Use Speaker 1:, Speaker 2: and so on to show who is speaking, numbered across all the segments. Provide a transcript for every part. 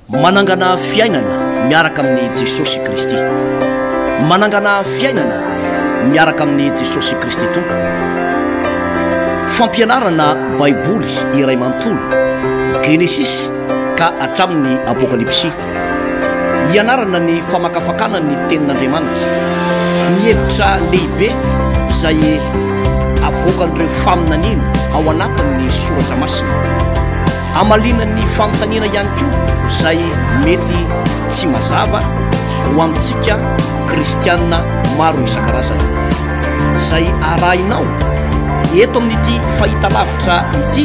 Speaker 1: Manangana fiainana miaraka amin'i Jesosy Kristy. Manangana fiainana miaraka amin'i Jesosy Kristy Tompo. Fampianarana Baiboly iray manontolo, Genesisy ka hatramin'ny Apokalypsy. Ianarana ny famakafakana ny tenin'Andriamanitra. Ny hevitra lehibe izay avoakan'ireo faminaniana ao anatin'ny soratra masina. Hamaliana ny fanontaniana ihany koa izay mety tsy mazava ho amintsika kristianina maro isan-karazany. Izay arahinao eto amin'ity fahitalavitra ity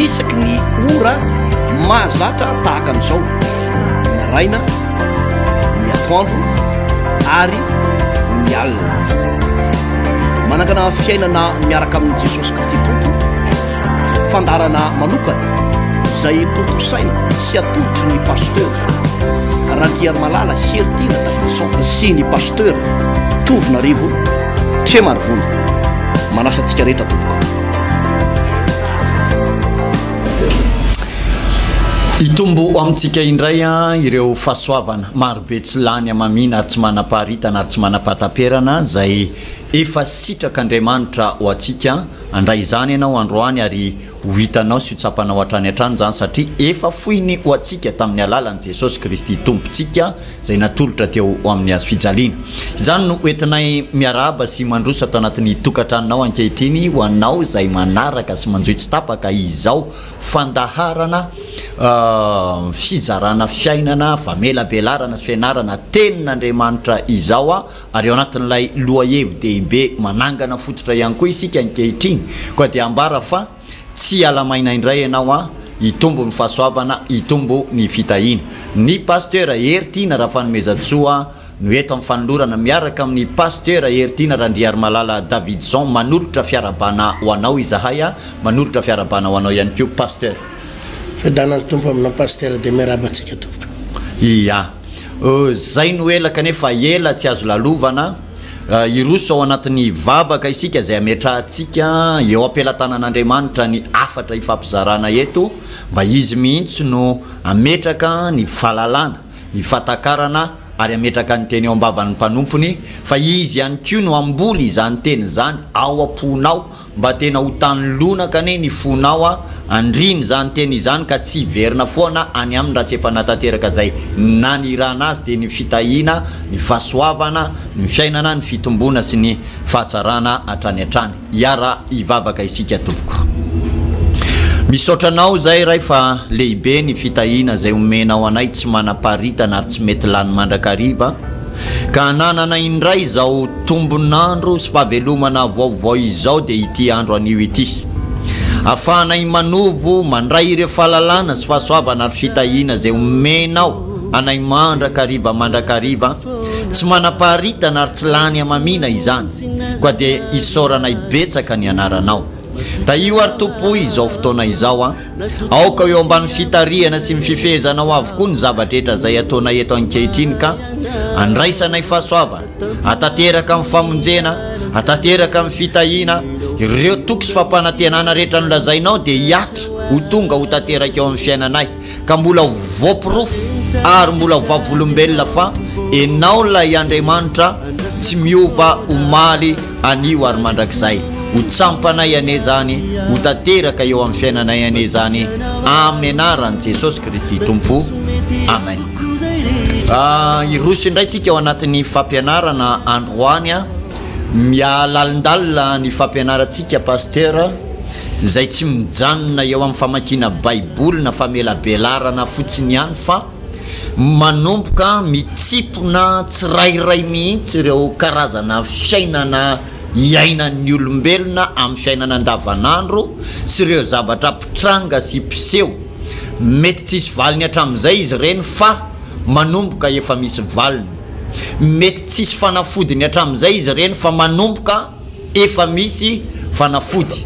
Speaker 1: isaky ny ora mahazatra tahaka an'izao, ny maraina, ny atoandro ary ny alina. Manangana fiainana miaraka amin'i Jesosy Kristy Tompo. fandaharana manokana izay tontosaina sy atolotry ny pasteur Randriarimalala Heritiana Davidson sy ny pasteur Tovonarivo Tremarivony. Manasa antsika rehetra tompoko. Hitombo
Speaker 2: amintsika indray ireo fahasoavana marobe tsy lany hamamiana ary tsy manam-paharitana ary tsy manam-pahataperana izay efa sitrak'Andriamanitra ho antsika. Handray izany ianao androany ary ho hitanao sy ho tsapanao hatrany hatrany izany satria efa foiny ho antsika tamin'ny alalan'i Jesosy Kristy Tompontsika izay natolotra teo amin'ny hazo fijaliana. Izany no ho entinay miarahaba sy mandroso ato anatin'ny tokantranonao ankehitriny ho anao izay manaraka sy manjohy tsy tapaka izao fandaharana fizarana fiainana famelabelarana sy fianarana tenin'Andriamanitra izao. ary ao anatin'ilay lohahevi-dehibe manangana fototra ihany koa isika ankehitriny, koa dia ambara fa, Tsy hiala maina indray ianao an, hitombo ny fahasoavana, hitombo ny fitahiana. Ny Pasteur Hery Tiana Rafanomezantsoa no eto amin'ny fanolorana miaraka amin'ny Pasteur Hery Tiana Randriarimalala Davidson manolotra fiarabana ho anao izahay an, manolotra fiarabana ho anao ihany koa Pasteur. Fiadanan'ny
Speaker 3: Tompo aminao Pasteur dia miaraba antsika tompoko. Ia.
Speaker 2: Izay no ela kanefa ela tsy azo lalovana. Hiroso ao anatin'ny vavaka isika izay ametrahantsika eo am-pelatanan'Andriamanitra ny hafatra ifampizarana eto mba Izy mihitsy no hametraka ny fahalalana, ny fahatakarana ary hametraka ny teny eo am-bavan'ny mpanompony fa Izy ihany koa no hamboly izany teny izany ao am-ponao Mba tena ho tany lonaka anie ny fonao a! Andriny izany teny izany ka tsy hiverina foana any aminy raha tsy efa natateraka izay nanirahana azy dia ny fitahiana, ny fahasoavana, ny fiainana, ny fitomboana sy ny fahatsarana hatrany hatrany. Hiara hivavaka isika tompoko. Misaotra anao izay Ray fa lehibe ny fitahiana izay omenao anay tsy manam-paritana ary tsy mety lany mandrakariva. Ka hananana indray izao tombon'andro sy fahavelomana vaovao izao dia ity andro anio ity. Afahanay manovo mandray ireo fahalalana sy fahasoavana ary fitahiana izay omenao anay mandrakariva mandrakariva, tsy manam-paharitana ary tsy lany hamamiana izany, koa dia isaoranay betsaka ny anaranao. Tahio ary Tompo o izao fotoana izao a. Aoka ho eo ambany fitarihana sy ny fifehezanao avokoa ny zava-drehetra izay ataonay eto ankehitriny ka andraisanay fahasoavana, atanteraka ny famonjena, atanteraka ny fitahiana, ireo toky sy fampanantenana rehetra nolazainao dia hihatra ho tonga ho tanteraka eo amin'ny fiainanay ka mbola ho voaporofo ary mbola ho vavolombelona fa Ianao ilay Andriamanitra tsy miova omaly Anio ary mandrakizay, ho tsampanay anie izany, ho tanteraka eo amin'ny fiainanay anie izany, amin'ny anaran'i Jesosy Kristy Tompo. Amen. Hiroso indray tsika ao anatin'ny fampianarana androany a. Mihalalindalina ny fampianarantsika Pasteur, izay tsy mijanona eo amin'ny famakiana Baiboly na famelabelarana fotsiny ihany fa. Manomboka mitsimpona tsirairay mihitsy ireo karazana fiainana iainan'ny olombelona amin'ny fiainana andavanandro sy ireo zavatra mpitranga sy mpiseho. Mety tsisy valiny hatramin'izay izy ireny fa manomboka efa misy valiny. Mety tsisy fanafodiny hatramin'izay izy ireny fa manomboka. efa misy fanafody.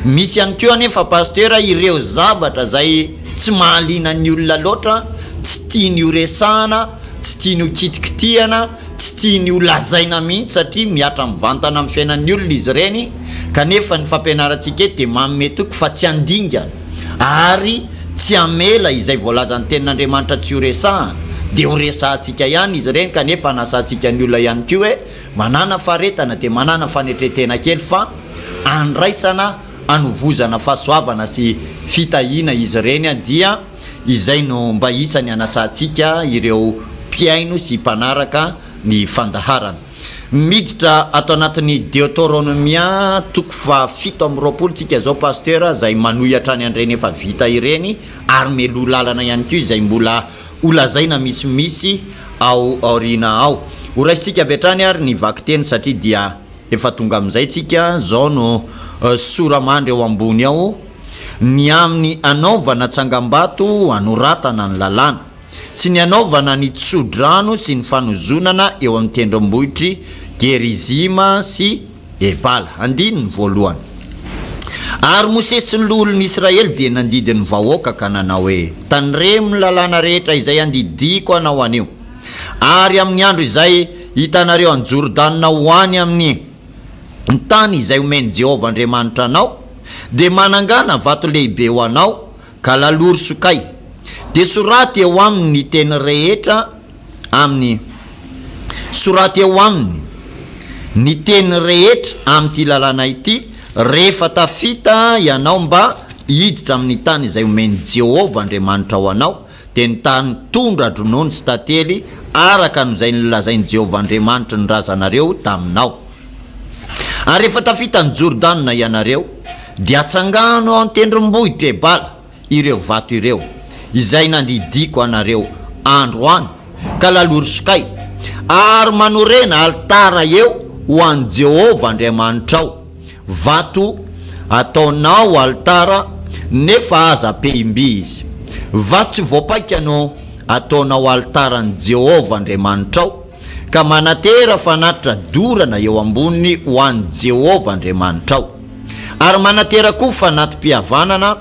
Speaker 2: Misy ihany koa anefa Pasteur ireo zavatra izay tsy mahaliana ny olona loatra, tsy tiany ho resahana, tsy tiany ho kitikitihana, tsy tiany ho lazaina mihitsy satria mihatra mivantana amin'ny fiainan'ny olona izy ireny kanefa ny fampianarantsika eto dia manome toky fa tsy handingana ary tsy hamela izay voalazan'ny tenin'Andriamanitra tsy ho resahana dia ho resahantsika ihany izy ireny kanefa hanasantsika ny olona ihany koa hoe Manana faharetana dia manana fanetren-tena kely fa andraisana hanovozana fahasoavana sy fitahiana izy ireny dia izay no mba isany anasantsika ireo mpihaino sy mpanaraka ny fandaharana. Miditra ato anatin'ny Deoteronomia toko faha fito amby roapolo tsika izao Pasteur izay manohy hatrany an'ireny efa vita ireny ary meloha lalana ihany koa izay mbola Ho lazaina misimisy ao aoriana ao. Ho raisintsika avy hatrany ary ny vakiteny satria dia efa tonga amin'izay tsika, zao no sora-mandry ao ambony ao, ny amin'ny hanaovana tsangambato hanoratana ny lalàna, sy ny hanaovana ny tso-drano sy ny fanozonana eo amin'ny tendrombohitr'i Gerizima sy. E Bala, andininy voalohany. Ary Mosesy sy ny loholon'Israely dia nandidy ny vahoaka ka nanao hoe, Tandremo ny lalàna rehetra izay andidiako anao anio, ary amin'ny andro izay hitanareo an'i Jordana ho any amin'ny tany izay homen'i Jehovah Andriamanitra anao, dia manangana vato lehibe ho anao, ka laloro sokay. Dia soraty eo aminy ny teny rehetra. amin'ny soraty eo aminy ny teny rehetra amin'ity lalàna ity rehefa tafita ianao mba hiditra amin'ny tany izay omen'i Jehovah Andriamanitrao anao, dia ny tany tondra-dronono sy tantely, araka an'izay nolazain'i Jehovah Andriamanitry ny razanareo taminao. Ary rehefa tafita an'i Jordana ianareo, dia atsangano ao an-tendrombohitra Ebala. ireo vato ireo, izay nandidiako anareo androany, ka lalorosokay, ary manorena alitara eo ho an'i Jehovah Andriamanitrao, vato ataonao alitara, nefa aza pehim-by izy. Vato tsy voapaika no ataonao alitaran'i Jehovah Andriamanitrao, ka manatera fanatitra dorana eo amboniny ho an'i Jehovah Andriamanitrao. ary manatera koa fanati-pihavanana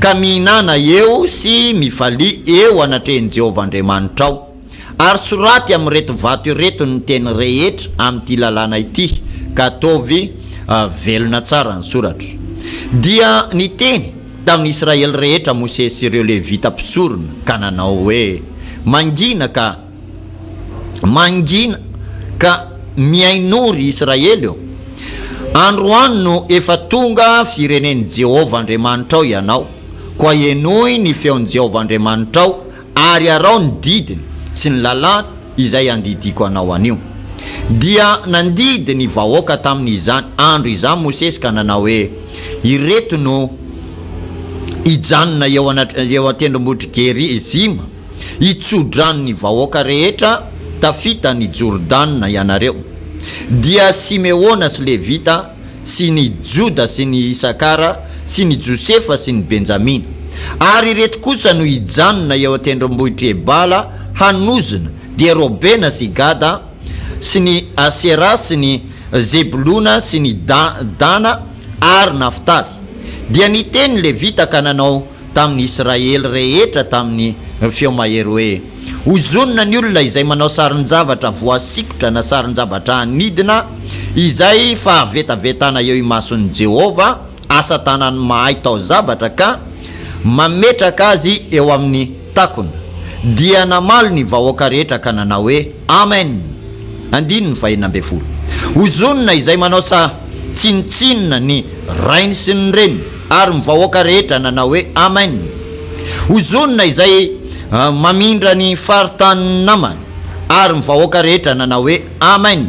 Speaker 2: ka mihinana eo sy mifalia eo anatrehin'i Jehovah Andriamanitrao. Ary soraty amin'ireto vato ireto ny teny rehetra amin'ity lalàna ity, ka ataovy velona tsara ny soratra. Dia niteny tamin'ny Israely rehetra Mosesy sy ireo Levita mpisorona ka nanao hoe, Mangina ka! Mangina ka mihainoa ry Israely ô! Androany no efa tonga firenen'i Jehovah Andriamanitrao ianao, koa henoy ny feon'i Jehovah Andriamanitrao ary arao ny didiny sy ny lalàny izay andidiako anao anio. Dia nandidy ny vahoaka tamin'izany andro izany Mosesy ka nanao hoe, Ireto no hijanona eo an-tendrombohitr'i Gerizima. I tso-drano ny vahoaka rehetra tafita ny Jordana ianareo. Dia Simeona sy Levita sy ny Joda sy ny Isakara sy ny Josefa sy ny Benjamina. Ary ireto kosa no hijanona eo an-tendrombohitr'i Ebala hanozona, dia Robena sy Gada sy ny Asera sy ny Zebolona sy ny Dana ary Naftaly. Dia niteny ny Levita ka nanao tamin' ny Isiraely rehetra tamin' ny feo mahery hoe, Hozonina ny olona izay manao sarin-javatra voasikotra na sarin-javatra hanidina, izay fahavetavetana eo imason' i Jehovah, asa-tànany mahay taozavatra, ka mametraka azy eo amin' ny. Takona. Dia namaly ny vahoaka rehetra ka nanao hoe, Amen! Andininy fahenina ambin'ny folo. Hozonina izay manao sa tsinotsinona ny rainy sy ny reniny, ary ny vahoaka rehetra nanao hoe, Amen! Hozonina izay mamindra ny faritanin'ny namany, ary ny vahoaka rehetra nanao hoe, Amen!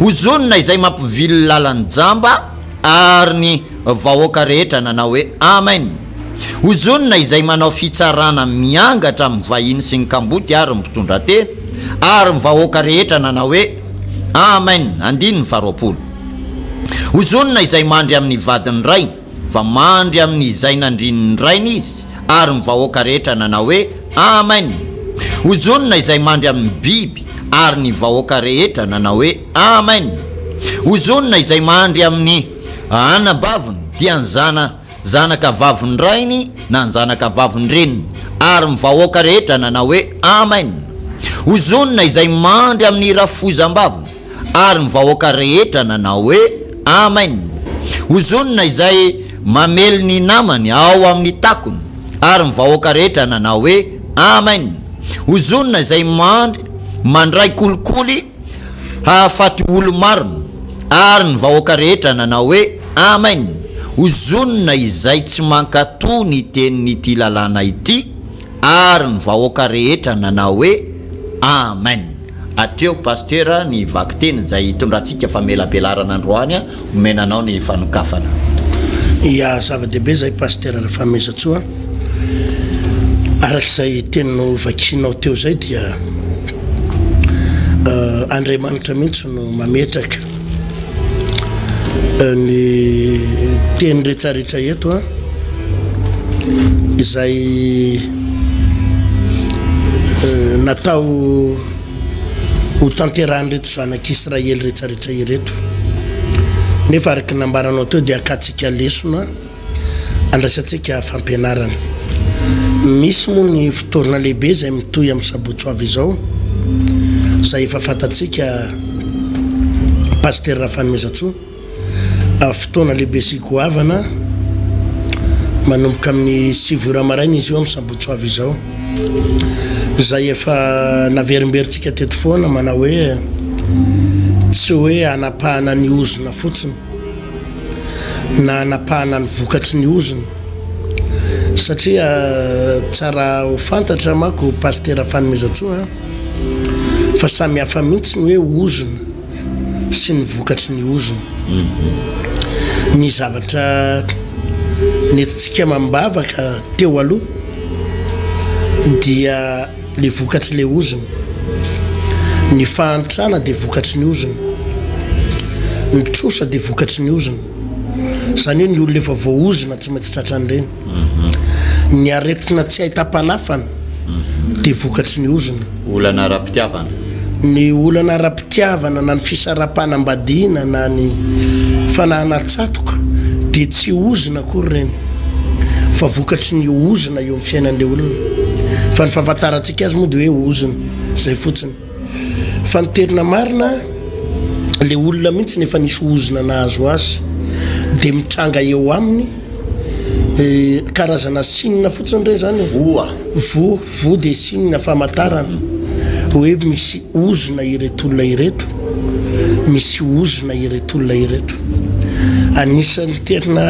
Speaker 2: Hozonina izay mampivily lalan-jamba, ary ny vahoaka rehetra nanao hoe, Amen! Ozonina izay manao fitsarana miangatra amin'ny vahiny sy ny kamboty ary ny mpitondra tena ary ny vahoaka rehetra nanao hoe, Amen, andininy faha roapolo. Ozonina izay mandry amin'ny vadin'ny rainy, fa mandry amin'ny izay nandrin'ny rainy izy, ary ny vahoaka rehetra nanao hoe, Amen. Ozonina izay mandry amin'ny biby, ary ny vahoaka rehetra nanao hoe, Amen. Ozonina izay mandry amin'ny anabaviny, dia ny zana. zanaka vavin-drainy na ny zanaka vavin-dreniny, ary ny vahoaka rehetra nanao hoe, Amen! Hozonina izay mandry amin'ny rafozam-baviny. Ary ny vahoaka rehetra nanao hoe, Amen! Hozonina izay mamely ny namany ao amin'ny takony. Ary ny vahoaka rehetra nanao hoe, Amen! Hozonina izay mandry mandray kolikoly hahafaty olo-marina. Ary ny vahoaka rehetra nanao hoe, Amen! Ozonina izay tsy mankato ny tenin'ity lalàna ity ary ny vahoaka rehetra nanao hoe Amen! Hatreo Pastera ny vakiteny izay hitondrantsika famelabelarana androany a! Omena anao ny fanokafana. Ia,
Speaker 3: zava-dehibe izay Pastera Rafamezantsoa. Araka izay teny novakianao teo izay dia Andriamanitra mihitsy no mametraka ny teny retraretra eto a izay natao ho tanterahan'ireto zanak'israely retraretra ireto nefa araka nambaranao teo dia akatsika lesona Andraisantsika fampianarana. Misy moa ny fotoana lehibe izay mitohy amin'ny sabotsy ho avy izao, izay efa fantatsika Pasitera Rafanimezatsou. Fotoana lehibe sy goavana, manomboka amin'ny sivy ora maraina izy io amin'ny sabotsy ho avy izao. Izay efa naverimberintsika teto foana manao hoe, tsy hoe hanapahana ny ozona fotsiny. na hanapahana ny vokatry ny ozona satria tsara ho fantatra manko Pasitera Fanomezantsoa a! fa samy hafa mihitsy ny hoe ozona sy ny vokatry ny ozona. Ny zavatra nentintsika amam-bavaka teo aloha dia. Le vokatry le ozona. Ny fahantrana dia vokatry ny ozona. Ny trosa dia vokatry ny ozona. Izany hoe ny olona efa voaozona tsy maintsy tratran'ireny. Mhm. Ny aretina tsy ahitam-panafana mhm. dia vokatry ny ozona. Olana ara-pitiavana.
Speaker 2: Ny
Speaker 3: olana ara fitiavana na ny fisaraham-panambadiana na ny fanahana tsatoka dia tsy ozona akory ireny fa vokatry ny ozona eo amin'ny fiainan'ilay olona fa ny fahafantarantsika azy moa dia hoe ozona izay fotsiny fa ny tena marina ilay olona mihitsy ny efa nisy ozona nahazo azy dia mitranga eo aminy Karazana signe fotsiny re zany e? Voa. Voa, voa dia signe famantarana hoe misy ozona ireto olona ireto, misy ozona ireto olona ireto. Anisan'ny tena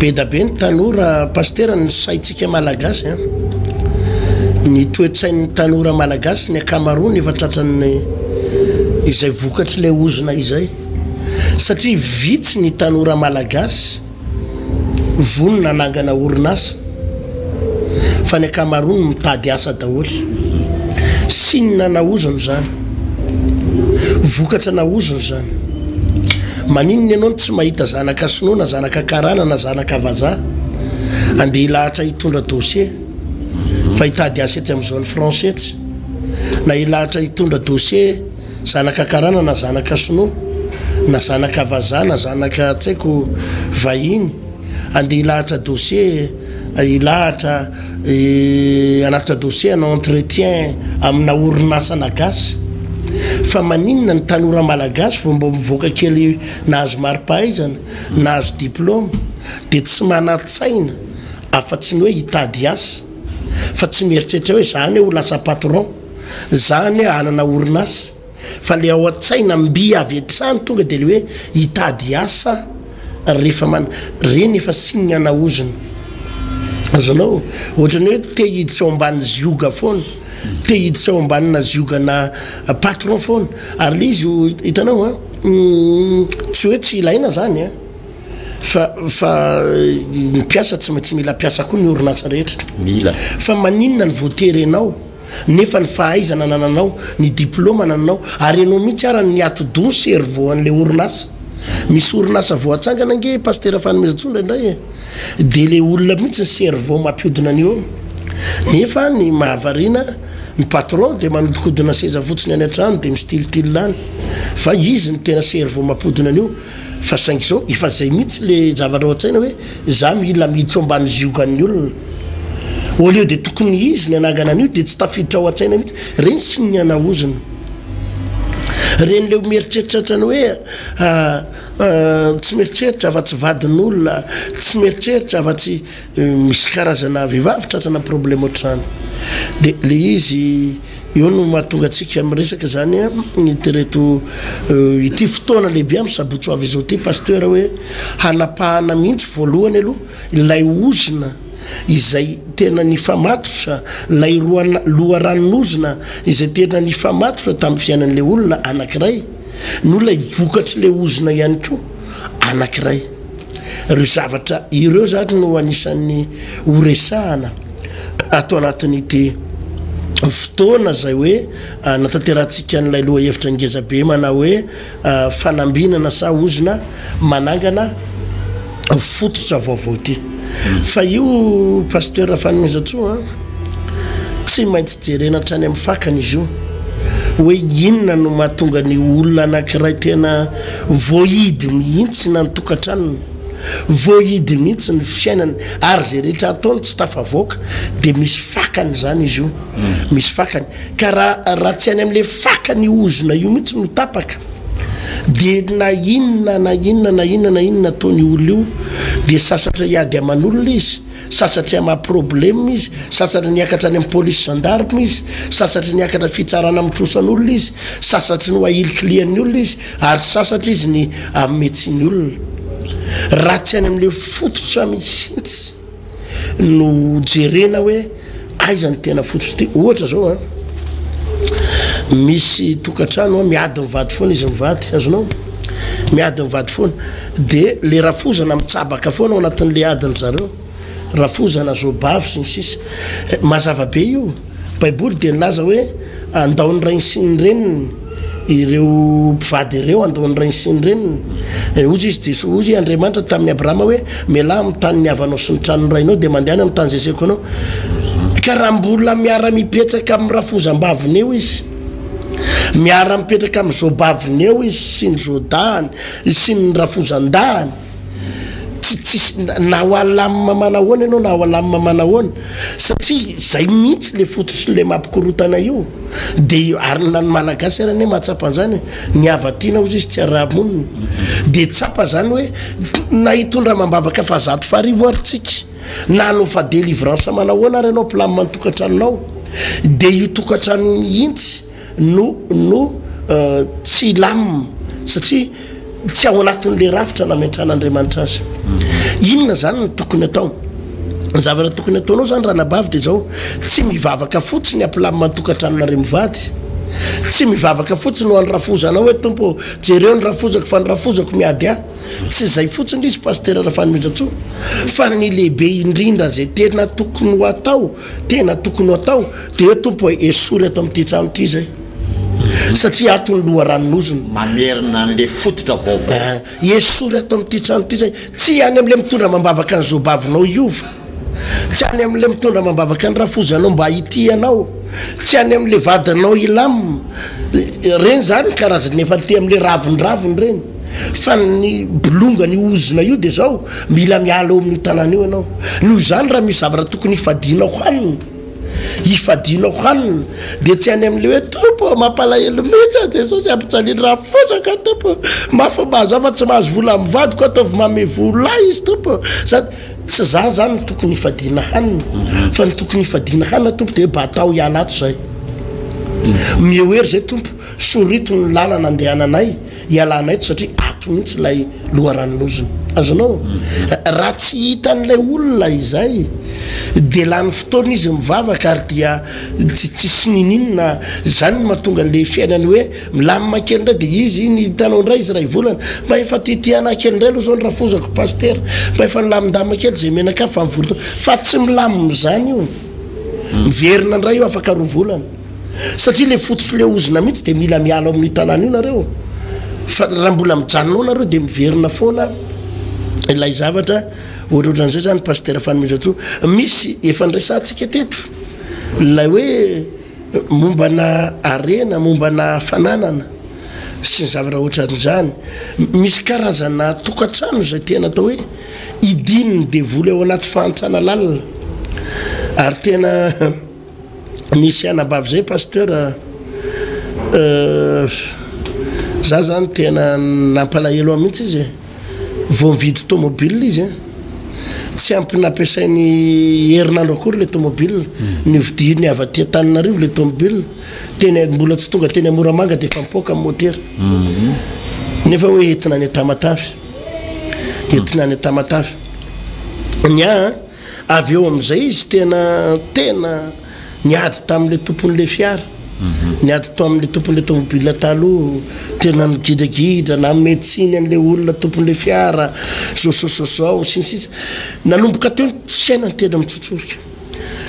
Speaker 3: be dia be ny tanora pasitera ny saintsika malagasy an! Ny toe-tsain'ny tanora malagasy ny ankamaroany efa tratran'ny izay vokatr'ilay ozona izay. satria vitsy ny tanora malagasy vonona hanangana orinasa fa ny ankamaroany mitady asa daholo. Sinona na ozona izany, vokatra na ozona izany. Maninona ianao no tsy mahita zanaka sinoa na zanaka karana na zanaka vazaha andeha hilahatra hitondra dossier fa hitady asa etsy amin'izao ny français tsy na hilahatra hitondra dossier Zanaka karana na zanaka sinoa na zanaka vazaha na zanaka tsy haiko vahiny andeha hilahatra dossier hilahatra hanatitra dossier hanao entretien amina orinasana gasy fa maninona ny tanora malagasy vao mba mivoaka kely nahazo maripahaizana nahazo diploma dia tsy manantsaina afa tsy ny hoe hitady asa fa tsy mieritreritra hoe za anie ho lasa patron zany hanana orinasa fa le ao an-tsaina mby avy hatrany tonga de le hoe hitady asa rehefa man reny efa signe ana ozona azonao ohatrany hoe te hiditra ao ambany zioga foana te hiditra ao ambanina ziogana patron foana ary le izy ho hitanao a tsy hoe tsy ilaina zany a fa fa ny mpiasa tsy maintsy mila mpiasa koa ny orinasa rehetra mila fa
Speaker 2: maninona ny
Speaker 3: voatery ianao nefa ny fahaizana anananao, ny diploma anananao ary enao mihitsy ara ny atidoha ny cerveau anle orinasa, misy orinasa vao atsangana ange Pasitera Fanomezantsoa indraindray e! de le olona mihitsy ny cerveau mampiodina an'io eo, nefa ny mahavariana ny patron de manodikodina seza fotsiny any antrano de mistiltil any fa izy no tena cerveau mampodina an'io fa saingy zao efa zay mihitsy le zavatra ao antsaina hoe Za mila miditra ao ambany ziogan'ny olona. Au lieu de tokony izy ny hanangana an'io dia tsy tafiditra ao an-tsaina mihitsy. Reny siny ny hanaozina. Reny le mieritreritra otrany hoe tsy mieritreritra afa tsy vadin'olona, tsy mieritreritra afa tsy misy karazana vehivavy tratrana problème otrany. De le izy. Eo no mahatonga antsika miresaka izany tereto ity fotoana lehibe amin'ny sabotsy ho avy izao ity Pasteur hoe hanapahana mihitsy voalohany aloha ilay ozona izay tena nifamatotra, ilay loharanon'ozona izay tena nifamatotra tamin'ny fiainan'ilay olona anankiray no ilay vokatr'ilay ozona ihany koa anankiray. Ireo zavatra ireo izany no anisan'ny horesahana. ato anatin'ity fotoana izay hoe natanterahantsika an'ilay lohahevitra ngezabe manao hoe fanambinana sa ozona manangana fototra vaovao ity. Fa io Pasteur Fanomezantsoa an, tsy maintsy jerena hatrany amin'ny fakany izy io hoe inona no mahatonga ny olona anankiray tena voahidy mihitsy na ny tokantranony, Voahidy mihitsy ny fiainany ary izay rehetra ataony tsy tafavoaka dia misy fakany izany izy io. Misy fakany. Ka raha raha tsy any amin'ilay fakany io ozona io mihitsy no tapaka dia na inona na inona na inona na inona ataony io olona io dia sasatra hiady aman'olona izy, sasatra hamaha probleme izy, sasatra ny hiakatra any amin'ny police gendarme izy, sasatra ny hiakatra fitsarana amin'ny trosan'olona izy, sasatry ny ho ahilikilian'ny olona izy, Ary sasatra izy ny ametsy ny olona raha tsy any amin'ilay fototra mihitsy no jerena hoe aiza ny tena fototra ty. Ohatra zao an, misy tokantrano an, miady mivady foana izy mivady, azonao? Miady mivady foana, dia le rafozana mitsabaka foana ao anatin'ilay adin-dry zareo. rafozana, zobavy, sy ny sisa Mazava be io. Baiboly dia nilaza hoe, Handao ny rainy sy ny reniny ireo mpivady ireo, handao ny rainy sy ny reniny. Eh, hoy izy Jesoa, hoy Andriamanitra tamin'i Abrahama hoe, Mialà amin'ny tany niavanao sy ny tranon'ny rainao dia mandehana amin'ny tany izay asehoko anao. Ka raha mbola miara-mipetraka amin'ny rafozam-baviny eo izy, miara-mipetraka amin'ny zobaviny eo izy sy ny zodahany sy ny rafozan-dahany, tsy tsisy na ho alamina manahoana ianao na ho alamina manahoana satria zay mihitsy le fototra le mampikorotana io de ary na ny malagasy ary anie mahatsapa an'zany ny havatiana ozy izy tsy arahamonina de tsapa zany hoe na hitondra amam-bavaka fa zato farivo ary tsika na hanao fa delivrance manahoana ary ianao mpilamina ny tokantranonao de io tokantrano mihitsy no no tsy hilamina satria tsy ao anatin'ilay rafitra nametran'Andriamanitra azy. Inona izany no tokony atao? Ny zavatra tokony ataonao izany ranabavy dia izao, tsy mivavaka fotsiny hampilamina ny tokantranonareo mivady, tsy mivavaka fotsiny ho an'ny rafozanao hoe Tompo ô, jereo ny rafozako fa ny rafozako miady ahy, tsy izay fotsiny izy Pasitera Rafanomezantsoa, fa ny lehibe indrindra izay tena tokony ho atao, Tena tokony ho atao dia Tompo e, esory eto amin'ity trano ity izay satria ato ny loharanon'ozona. Mamerina an'le
Speaker 2: fototra vaovao. Eh, esory ato
Speaker 3: amin'ity trano ity izay tsy any amin'le mitondra amam-bavaka ny zobavinao hiova, tsy any amin'le mitondra amam-bavaka ny rafozanao mba hitia anao, tsy any amin'le vadinao hilam, ireny zany ny karazany efa te amin'le ravindraviny ireny, fa ny bolongany ozona io dia zao. Mila miala eo amin'io tanàna io ianao. Noho izany, raha misy zavatra tokony hifadianao hanina, hifadianao hanina, dia tsy any amin'ilay hoe, Tompo ô, mampalahelo mihitsy aho Jesosy, ampijaliany raha fosaka aho Tompo ô, mafy ny mahazo ahy fa tsy mahazo vola amin'ny vadiko aho, ataovy manome vola ahy izy Tompo ô, sady Tsy izaho izany no tokony hifadiana hanina, fa ny tokony hifadiana hanina Tompo dia hoe batao hiala ato izay. Mihoery izay Tompo, soritony ny lalana andehananay. Ialana eto satria ato mihitsy ilay loharanon'ozona. Azonao? Raha tsy hitan'ilay olona izay, dia lany fotoana izy mivavaka ary dia tsy tsisy niniana. Izany no mahatonga an'ilay fiainany hoe milamina kely indray. Dia izy iny hitanao indray izy iray volana, mba efa tia tia anah kely indray aloha izao ny rafozako Pasitera. Mba efa nilamindamina kely izay menakà fa mivory taona. Fa tsy milamina izany io. Miverina indray io afaka roa volana. satria le fotsy filehozina mihitsy de mila miala ao amin'ny tanàna io nareo fa raha mbola mijanona ao nareo de miverina foana ilay zavatra ohatrohatran'izay zany pastera fanomezatsoa misy efa nresantsika teto lay hoe mombana arena mombana hafananana sy ny zavatra ohatran'izany misy karazana tokantrano zay tena atao hoe idininy devoly ao anaty fahantsana lalina ary tena Nisy anabavy zay pasteur euh za zany tena nampalahelo ahy mihitsy izy vao nividy tomobile izy a tsy ampy nampiasainy herinandro akory le tomobile hmm. novidiany avy aty Antananarivo le tomobile tena mbola tsy tonga teny Amoramanga dia efa mipoaka amin'ny motera hmm. nefa hoe entina any Tamatave entina any Tamatave ny ahy Avy eo amin'izay izy tena tena niady tamin'ilay tompon'ilay fiara. Niady tamin'ilay tompon'ilay tômôbila taloha, tena nigidragidra, nanome tsiny an'ilay olona tompon'ilay fiara, zôzôzôzao, sy ny sisa. Nanomboka teo ny fiainany tena mitsotsorika.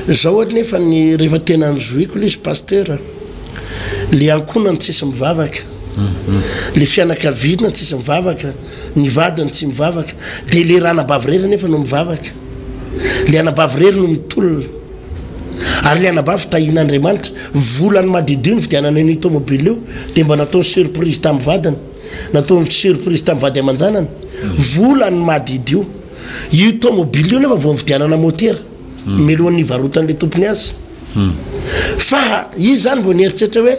Speaker 3: Izao anefa ny rehefa tena nizohiko ilay izy Pasitera, ilay ankohonany tsisy mivavaka, ilay fianakaviana tsisy mivavaka. Ny vadiny tsy mivavaka. Dia ilay ranabavy irery anefa no mivavaka. Ilay anabavy irery no mitolona. Ary ilay anabavy tahian'Andriamanitra. Volany madiodio nividianana an'io tômôbila io, dia mba nataony surprise tamin'ny vadiny. Nataony surprise tamin'ny vady aman-janany. Volany madiodio. Io tômôbila io anefa vao nividianana môtera, hmm. mialohan'ny nivarotan'ilay tompony azy. Hmm. Fa izy izany vao nieritreritra hoe,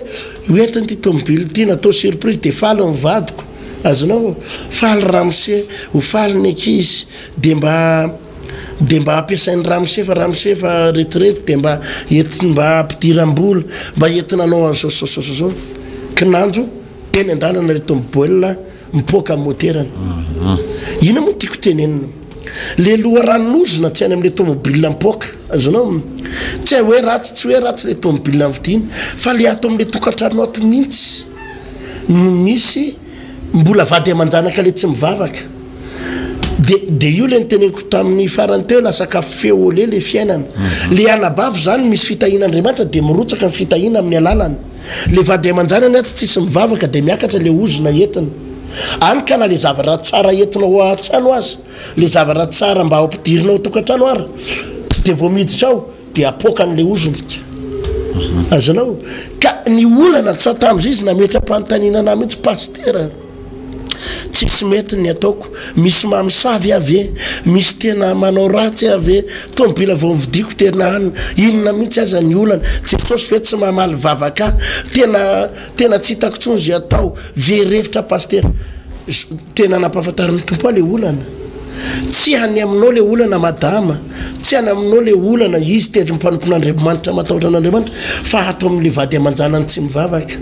Speaker 3: hoentin'ity tômôbila ity, natao surprise, dia faly ny vadiko. Azonao? Faly ramose, ho faly ny ankizy, dia mba dia mba ampiasain'i ramose fa ramose efa retraite dia mba entiny mba ampidiram-bola mba entina hanao an'izao zao zao zao kinanjo teny an-dalana reto miboelina mipoaka amin'ny moterany mhm. ina moa tiako tenenina le loharanonozona tsy any am'le tomobile mipoaka azonao tsy hay hoe ratsy tsy hoe ratsy le tomobile mividiana fa le ato am'le tokantranona ato mihitsy no misy mbola vady aman-janaka le tsy mivavaka de de io le niteneniko tamin'ny farany teo la sakafo feo ole le fiainana mhm. le anabavy zany misy fitahiana andriamanitra de mirotsaka ny fitahiana amin'ny alalany le vady aman-janany atsy tsisy mivavaka de miakatra le ozona entina any ka na le zavatra tsara entina ho atsano azy le zavatra tsara mba hampidirinao tokantrano ary de vao miditra ao Dia apoakany ilay ozony. Azonao? Ka ny olana tsy tamin'izay izy nametra-panontaniana anah mihitsy, Pasitera, tsisy mety ny ataoko. Misy mamosavy aho ve? Misy tena manao ratsy aho ve? Tomobila vao novidiako tena an! Inona mihitsy aza ny olana? Jesosy ve tsy mamaly vavaka ahy? Tena. Tena tsy hitako tsony ze atao, very hevitra Pasitera. Tena nampahafantarin'ny Tompo ahy le olana. Tsy any aminao le olana Madama, tsy any aminao le olana, izy tendry ny mpanompon'Andriamanitra matahotra an'Andriamanitra fa ato amin'le vady aman-janany tsy mivavaka.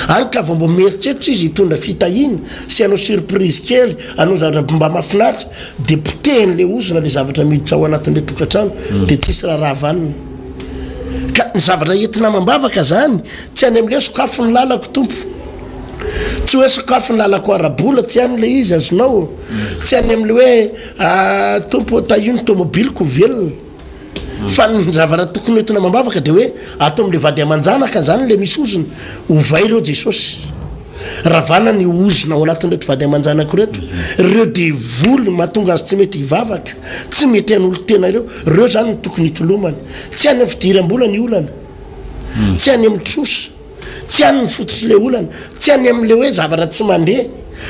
Speaker 3: Any ka vao mba mieritreritra izy hitondra fitahiana sy hanao surprise kely, hanao zava-draha mba mahafinaritra, de potehin'le ozona le zavatra miditra ao anatin'le tokantrano de tsisy raharaha vanona. Ka ny zavatra entina amam-bavaka zany Tsy any amin'ilay sokafy ny lalako Tompo Tsy hoe sokafy ny lalako ara-bola Tsy any ilay izy azonao Tsy any amin'ilay hoe ah, Tompo ô tahio ny tômôbiliko ho velona Fa ny zavatra tokony hoentina amam-bavaka dia hoe Ato amin'ilay vady aman-janaka Izany ilay misy ozona Ovay ireo Jesosy Ravana ny ozona ao anatin'ireto vady aman-janako ireto Ireo devoly mahatonga azy tsy mety hivavaka Tsy mety hanolo-tena ireo Ireo izany no tokony hitolomana Tsy any amin'ny fidiram-bola ny olana tsy any amin'ny trosa, tsy any ny fototr'i le olana, tsy any amin'le hoe zavatra tsy mandeha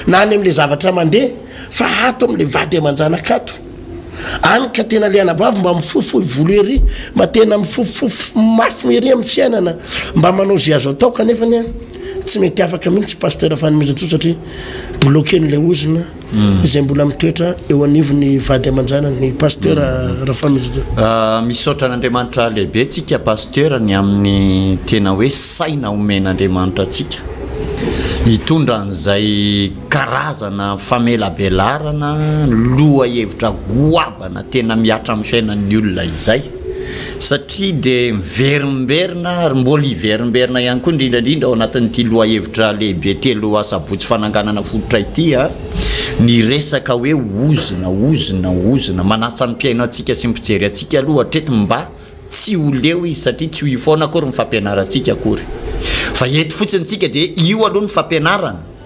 Speaker 3: na any amin'le zavatra mandeha fa ato amin'le vady aman-janaka ato. Any ka tena le anabavy mba mifohifohy volo ery, mba tena mifofofofo mafy ery amin'ny fiainana, mba manao ze azo atao kanefany a tsy mety afaka mihitsy Pasteur Fanomezantsoa satria bloquer-n'le ozona. izay mbola mitoetra eo anivon'ny vady aman-janany, ny Pasteur Rafamizojo. Misaotra
Speaker 2: an'Andriamanitra lehibe tsika Pasteur ny amin'ny tena hoe saina omen'Andriamanitra antsika hitondra an'izay karazana famelabelarana lohahevitra goabana tena mihatra amin'ny fiainan'ny olona izay. satria dia miverimberina ary mbola hiverimberina ihany koa indrindra indrindra ao anatin'ity lohahevitra lehibe telo asabotsy fananganana fototra ity ny resaka hoe ozona, ozona, ozona. Manasa ny mpihaino antsika sy ny mpijery antsika aloha hatreto mba tsy ho leo izy satria tsy ho io foana akory ny fampianarantsika akory. Fa eto fotsiny isika dia io aloha ny fampianarana.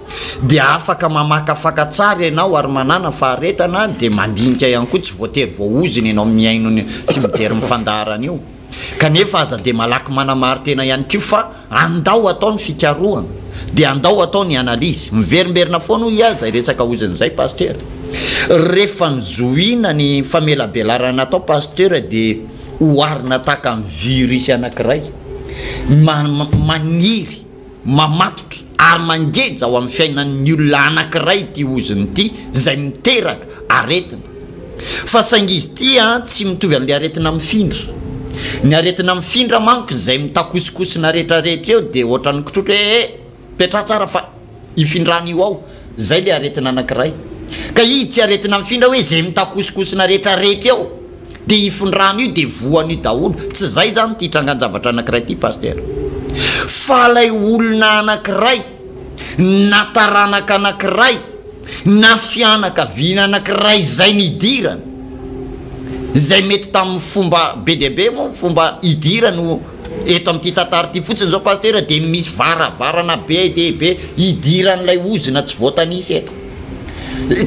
Speaker 2: dia afaka mamakafaka tsara ianao ary manana faharetana dia mandinika ihany koa tsy voatery voaozona ianao mihaino ny sy mijery ny fandaharana io kanefa aza dia malaky manamarin-tena ihany koa fa andao atao ny fikarohana dia andao atao ny analyse miverimberina foana hoy aza resaka ozona izay pasteur rehefa nizohina ny famelabelarana atao pasteur dia oharina tahaka ny virus anakiray maniry Mamatotra ary mangeja ao amin'ny fiainan'ny olona anankiray ity ozona ity izay miteraka aretina. Fa saingy izy ity tsy mitovy amin'ilay aretina mifindra. Ny aretina mifindra manko izay mitakosokosona rehetra rehetra eo dia ohatran'ny kitrotro hoe eh! petraha tsara fa hifindran'io ao. Zay le aretina anakiray. Ka izy tsy aretina mifindra hoe ze mitakosokosona rehetra rehetra eo de ifindrany io de voany io daholo. Tsy zay zany ty trangan-javatra anakiray ty Pasitera. Fa lay olona anakiray na taranaka anakiray na fianakaviana anakiray zay nidirany, zay mety taminy fomba be dia be moa ny fomba idirany o. Eto amin'ity tantara ity fotsiny izao Pasitera dia misy varavarana be dia be hidiran'ilay ozona tsy voatanisa eto.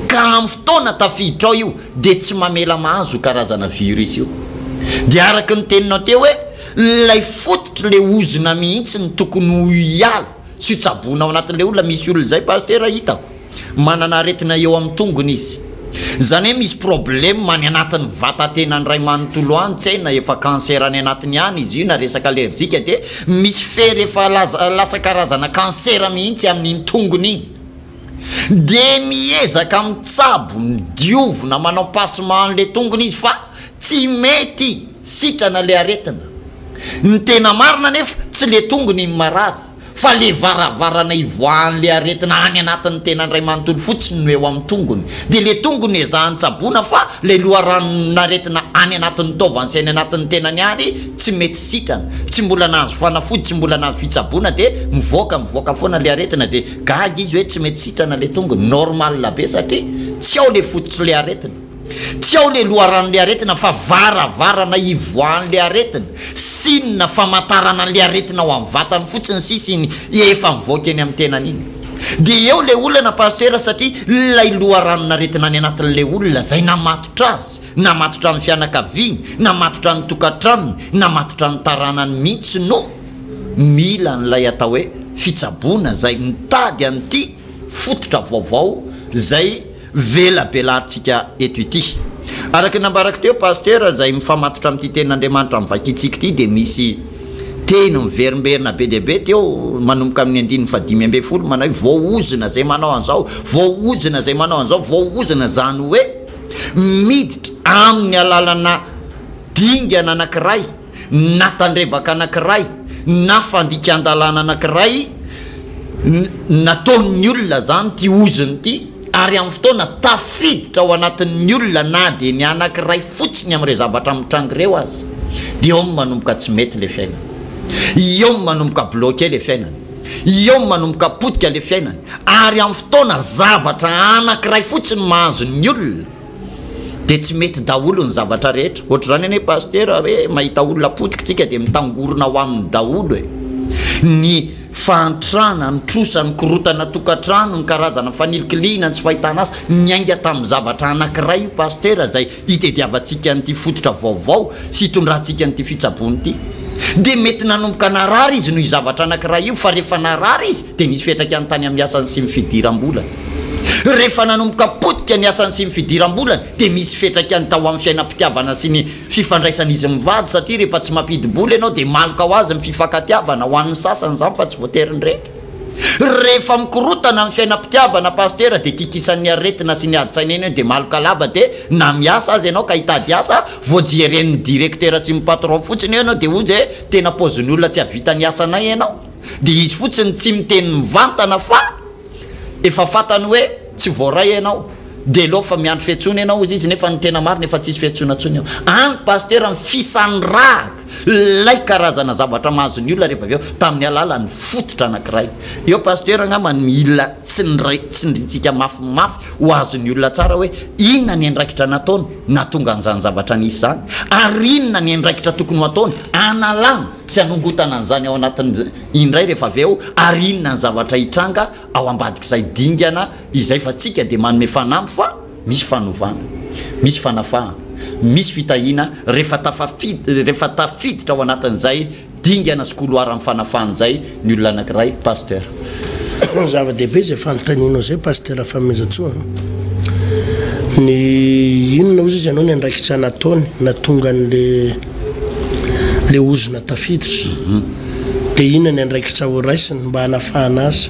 Speaker 2: Ka amin'ny fotoana tafiditra ao io dia tsy mamela mahazo io karazana virus io. Dia araka ny teninao teo hoe ilay fototr'ilay ozona mihitsy no tokony ho hiala sy ho tsaboina ao anatin'ilay olona, misy olona izay Pasitera hitako. Manana aretina eo amin'ny tongony izy. Izany hoe misy problème any anatin'ny vatatenany ray manontolo any tsy hay na efa cancer any anatiny any izy io na resaka allergique dia misy fery efa lasa karazana cancer mihitsy amin'iny tongony iny dia miezaka mitsabo ny diovina manao passement an'ilay tongony izy fa tsy mety sitrana ilay aretina ny tena marina anefa tsy ilay tongony no marary fa le varavarana ivoahan'le aretina any anatin'ny tenany iray manontolo fotsiny no eo amin'ny tongony, dia le tongony ezahany tsaboina fa le loharanon'aretina any anatin'ny taovany sy any anatin'ny tenany ary tsy mety sitrana, tsy mbola nahazo fanafody, tsy mbola nahazo fitsaboana dia mivoaka mivoaka foana le aretina dia gaga izy hoe tsy mety sitrana le tongony, normal be satria tsy ao le fototr'le aretina. Tsy ao le loharanon'le aretina fa varavarana ivoahan'le aretina, signe famantarana an'le aretina ao amin'ny vatany fotsiny sisa iny efa mivoaka eny amin'ny tenany iny. Dia eo le olana Pasitera satria ilay loharanon'aretina any anatin'le olona zay namatotra azy, namatotra ny fianakaviany, namatotra ny tokantranony, namatotra ny taranany mintsy no mila an'ilay atao hoe fitsaboana zay mitady an'ity fototra vaovao zay velabelarintsika eto ity. Araka ny nambarako teo, Pasteur, izay mifamatotra amin'ity tenin'Andriamanitra mivaikitsika ity dia misy teny miverimberina be dia be teo manomboka amin'ny andininy fahadimy ambin'ny folo manao hoe, voaozona izay manao an'izao, voaozona izay manao an'izao, voaozona, izany hoe miditra amin'ny alalana dingana anankiray. na tandrevaka anankiray na fandikan-dalàna anankiray nataon'ny olona izany ity ozona ity ary amin'ny fotoana tafiditra ao anatin'ny olona na dia ny anankiray fotsiny amin'ireo zavatra mitranga ireo aza dia eo no manomboka tsy mety ilay fiainana. Eo no manomboka bloqué ilay fiainana. Eo no manomboka potika ilay fiainana ary amin'ny fotoana zavatra anankiray fotsiny mahazo ny olona dia tsy mety daholo ny zavatra rehetra, ohatr'izany anie Pasitera hoe mahita olona potika tsika dia mitangorona ho aminy daholo e! ny fahantrana, ny trosa, ny korotana tokantrano, ny karazana fanilikilihina, ny tsy fahitana asa, niainga tamin'ny zavatra anankiray io Pasitera izay hitediavantsika an'ity fototra vaovao sy hitondrantsika an'ity fitsaboana ity, dia mety nanomboka narary izy noho io zavatra anankiray io fa rehefa narary izy dia nisy fiantraikany tany amin'ny asany sy ny fidiram-bolany. Rehefa nanomboka potika ny asany sy ny fidiram-bolany dia misy fetrak'any tao amin'ny fiainam-pitiavana sy ny fifandraisan'izy mivady satria rehefa tsy mampidi-bola ianao dia maloka ho azy ny fifankatiavana, ho an'ny sasany izany fa tsy voatery ny rehetra. Rehefa mikorotana ny fiainam-pitiavana Pasitera dia kikisan'ny aretina sy ny adin-tsaina eny eo dia maloka lava dia na miasa aza ianao ka hitady asa vao jeren'ny directeur sy ny patron fotsiny eo ianao dia hozy e tena paozin'olona tsy hahavita ny asanay ianao dia izy fotsiny tsy miteny mivantana fa Efa fatany hoe tsy voaray ianao de leo fa miandry fiantsoana ianao ozy izy nefa ny tena marina efa tsisy fiantsoana tsony eo any pasitera ny fisandrahaka lay karazana zavatra mahazo ny olona rehefa avy eo tamin'ny alalan'ny fototra anakiray eo pasitera angamba ny mila tsindray tsindrintsika mafy mafy ho azo ny olona tsara hoe inona ny andraikitra nataony natonga an'izany zavatra nisy izany ary inona ny andraikitra tokony ho ataony analana sy anongotana an'izany ao anatin'ny indray rehefa avy eo ary inona ny zavatra hitranga ao ambadik'izay dingana izay fa tsika dia manome fanamby fa misy fanovana, misy fanafahana, misy fitahiana rehefa tafafidy rehefa tafiditra ao anatin'izay dingana sy koloaran'ny fanafahana izay ny olona anankiray Pasteur.
Speaker 3: Zava-dehibe izay fanontanianao izay Pasteur Famehezantsoa a! Ny inona ozy izy ianao ny andraikitra nataony nahatonga an'le. ilay ozona tafiditra, dia inona ny andraikitra ho raisiny mba hanafahana azy?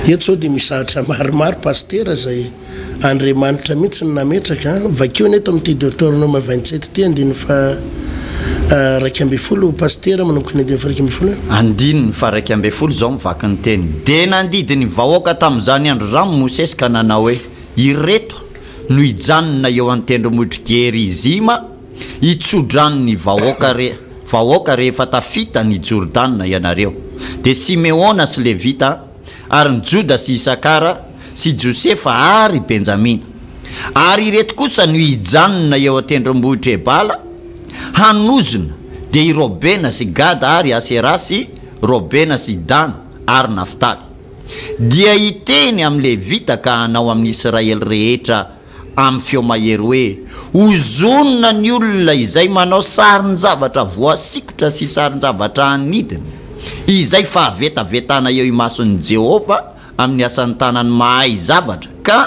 Speaker 3: Eto izao dia misy zavatra maromaro Pasitera izay Andriamanitra mihitsy no nametraka, vakio anie eto amin'ity Deoteronoma vingt sept ity andininy faha iraika ambin'ny folo Pasitera manomboka ny andininy faha iraika ambin'ny folo e. Andininy faha iraika
Speaker 2: ambin'ny folo izao mivaky ny teny, Dia nandidy ny vahoaka tamin'izany andro izany Mosesy ka nanao hoe, Ireto no hijanona eo an-tendrombohitr'i Gerizima, Hi tsodrano ny vahoaka re vahoaka rehefa tafita ny Jordana ianareo. Dia Simeona sy Levita, ary ny Joda sy Isakara, sy Josefa ary Benjamina. Ary ireto kosa no hijanona eo an-tendrombohitra Ebala, hanozona, dia i Robena sy Gada ary Asera sy Robena sy Dana ary Naftaly. Dia hiteny amin'ny Levita ka hanao amin'ny Israely rehetra amin'ny feo mahery hoe, Ozonina ny olona izay manao sarin-javatra voasikotra sy sarin-javatra anidina, izay fahavetavetana eo imason'i Jehovah amin'ny asan'ny tanany mahay zavatra, ka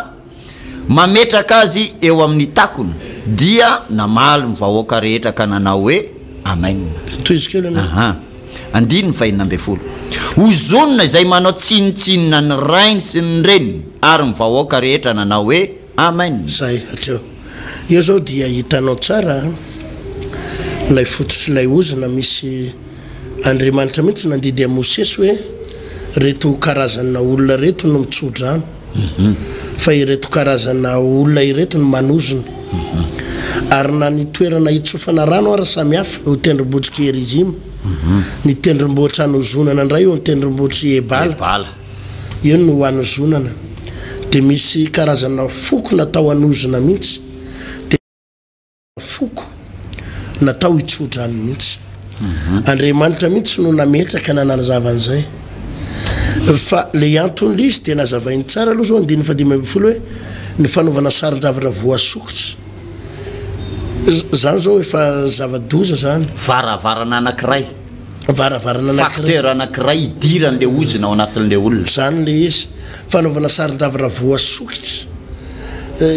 Speaker 2: mametraka azy eo amin'ny takona. Dia namaly ny vahoaka rehetra ka nanao hoe, Amena. Tohizo kely anie. Aha. Andininy fahenina ambin'ny folo, Ozonina izay manao tsinontsinona ny rainy sy ny reniny ary ny vahoaka rehetra nanao hoe, Amen! Izay hatreo.
Speaker 3: Eo izao dia hitanao tsara ilay fototr'ilay ozona misy Andriamanitra mihitsy nandidy an'i Mosesy hoe, Ireto karazana olona ireto no mitso-drano. fa ireto karazana olona ireto no manozona ary na ny toerana hitsofana rano ary samy hafa eo tendrombohitry Kerizima ny tendrombohitra anozonana indray eo tendrombohitry Ebala eo no anozonana dia misy karazana foko natao hanozona mihitsy Foko. Natao hitsodrano mihitsy. Andriamanitra mihitsy no nametraka nanazava an'izay. Fa ilay anton'ilay izy dia nazavainy tsara aloha izao andininy fahadimy ambin'ny folo hoe ny fanaovana saron-javatra voasokitra. Izany izao efa zava-doza izany. Varavarana anankiray.
Speaker 2: varavarana
Speaker 3: anankiray. Facteur anankiray
Speaker 2: hidiran'ilay ozona ao anatin'ilay olona. Izany ilay izy.
Speaker 3: Fanaovana saron-javatra raha voasokitra,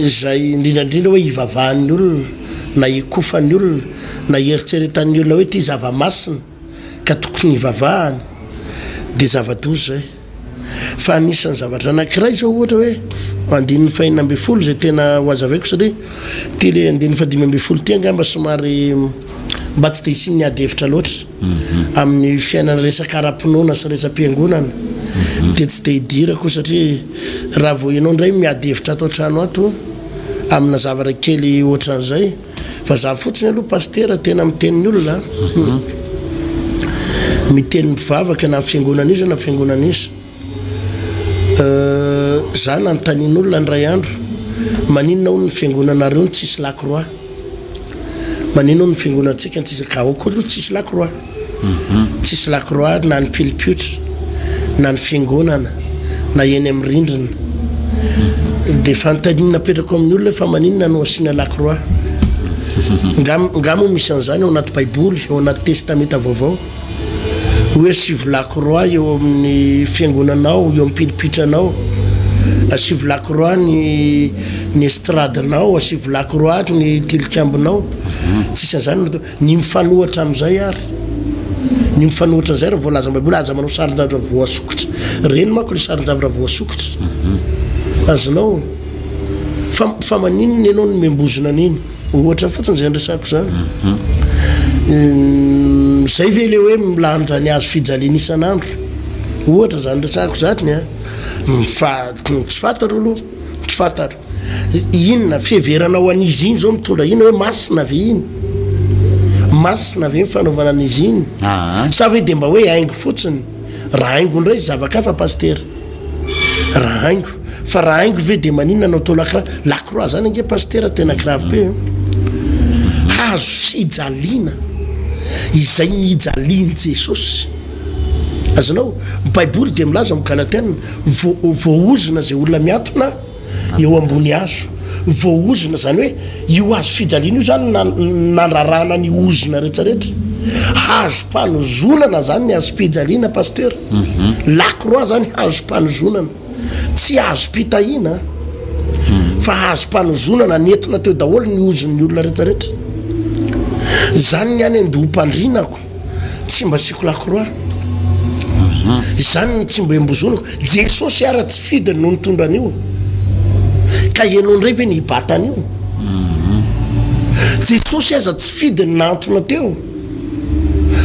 Speaker 3: izay indrindra indrindra hoe ivavahan'ny olona, na ikofan'ny olona, na ieritreretan'ny olona hoe ity zava-masina ka tokony hivavahany, dia zava-doza izay. Fa anisan'ny zavatra anankiray izao ohatra hoe andininy fahina ambin'ny folo izay tena ho azavaiko satria ity le andininy fadimy ambin'ny folo ity angamba somary mba tsy dia isin'ny ady hevitra loatra mhm. amin'ny fiainana resaka ara-pinoana sy resa-piangonana mhm. dia tsy dia hidirako satria raha vao ianao indray miady hevitra ato an-trano ato amina zavatra kely ohatran'izay Fa za fotsiny aloha pasitera tena miteny ny olona mhm. miteny mivavaka na fiangonana iza na fiangonana iza euh, za nanontanian'olona ny ray andro maninona ho ny fiangonanareo ny tsisy lakroa maninona ho ny fiangonantsika ny tsisy ka aoka aloha tsisy lakroa Tsisy lakroady na ny pilipiotra na ny fiangonana na eny amin'ny rindrina. Dia fanontaniana apetrako amin'ny olona hoe fa maninona no asiana lakroa? Nga nga moa misy an'izany ao anaty baiboly, ao anaty testamenta vaovao? Hoe asivo lakroa eo amin'ny fiangonanao, eo amin'ny pilipitranao, asivo lakroa ny ny estradinao, asivo lakroa ny tilikambonao. Tsisy an'izany. Ny mifanohitra amin'izay ary, ny mifanohitra an'izay raha voalazan'ny Baiboly, aza manao sarin-javatra voasokitra. Ireny manko ilay sarin-javatra voasokitra. Mhm. Azonao. Fa, fa maninona ianao no membozina an'iny? Ohatra fotsiny izay andresako izany. Mhm. Izay ve ilay hoe milanja ny hazo fijaliana isan'andro? Ohatra izany resako izany, a. Fa tsy fantaro aloha, tsy fantaro. Inona? Fiheverana ho an'izy iny zao mitondra inona hoe masina ve iny? Masina ve ny fanaovana an'izy iny? Sa ve dia mba hoe haingo fotsiny? Raha haingo indray zava-kafa pasitera. Raha haingo. Fa raha haingo ve dia maninona anao atao lakra? Lakroa zany ange pasitera tena grave be. Hazo fijaliana izay nijalian'i Jesosy. Azonao? Baiboly dia milaza ao amin'ny Galatiana, voaozona izay olona miatona. eo ambony hazo voahozona, izany hoe io hazo fijaliana io izany nandrarana ny ozona rehetra rehetra, hazom-panozonana izany ny hazom-pijaliana pasteur, mhm. lakroa izany hazom-panozonana, tsy hazom-pitahiana mhm. fa hazom-panozonana nentina teo daholo ny ozon'ny olona rehetra rehetra, izany ny any an-dohom-pandrinako. tsy mba asiako lakroa izany ny tsy mba embozoniko jesosy ara tsy fidiny no nitondra an'io ka ianao indray ve ny hibatana io jesosy aza tsy fidiny nantona teo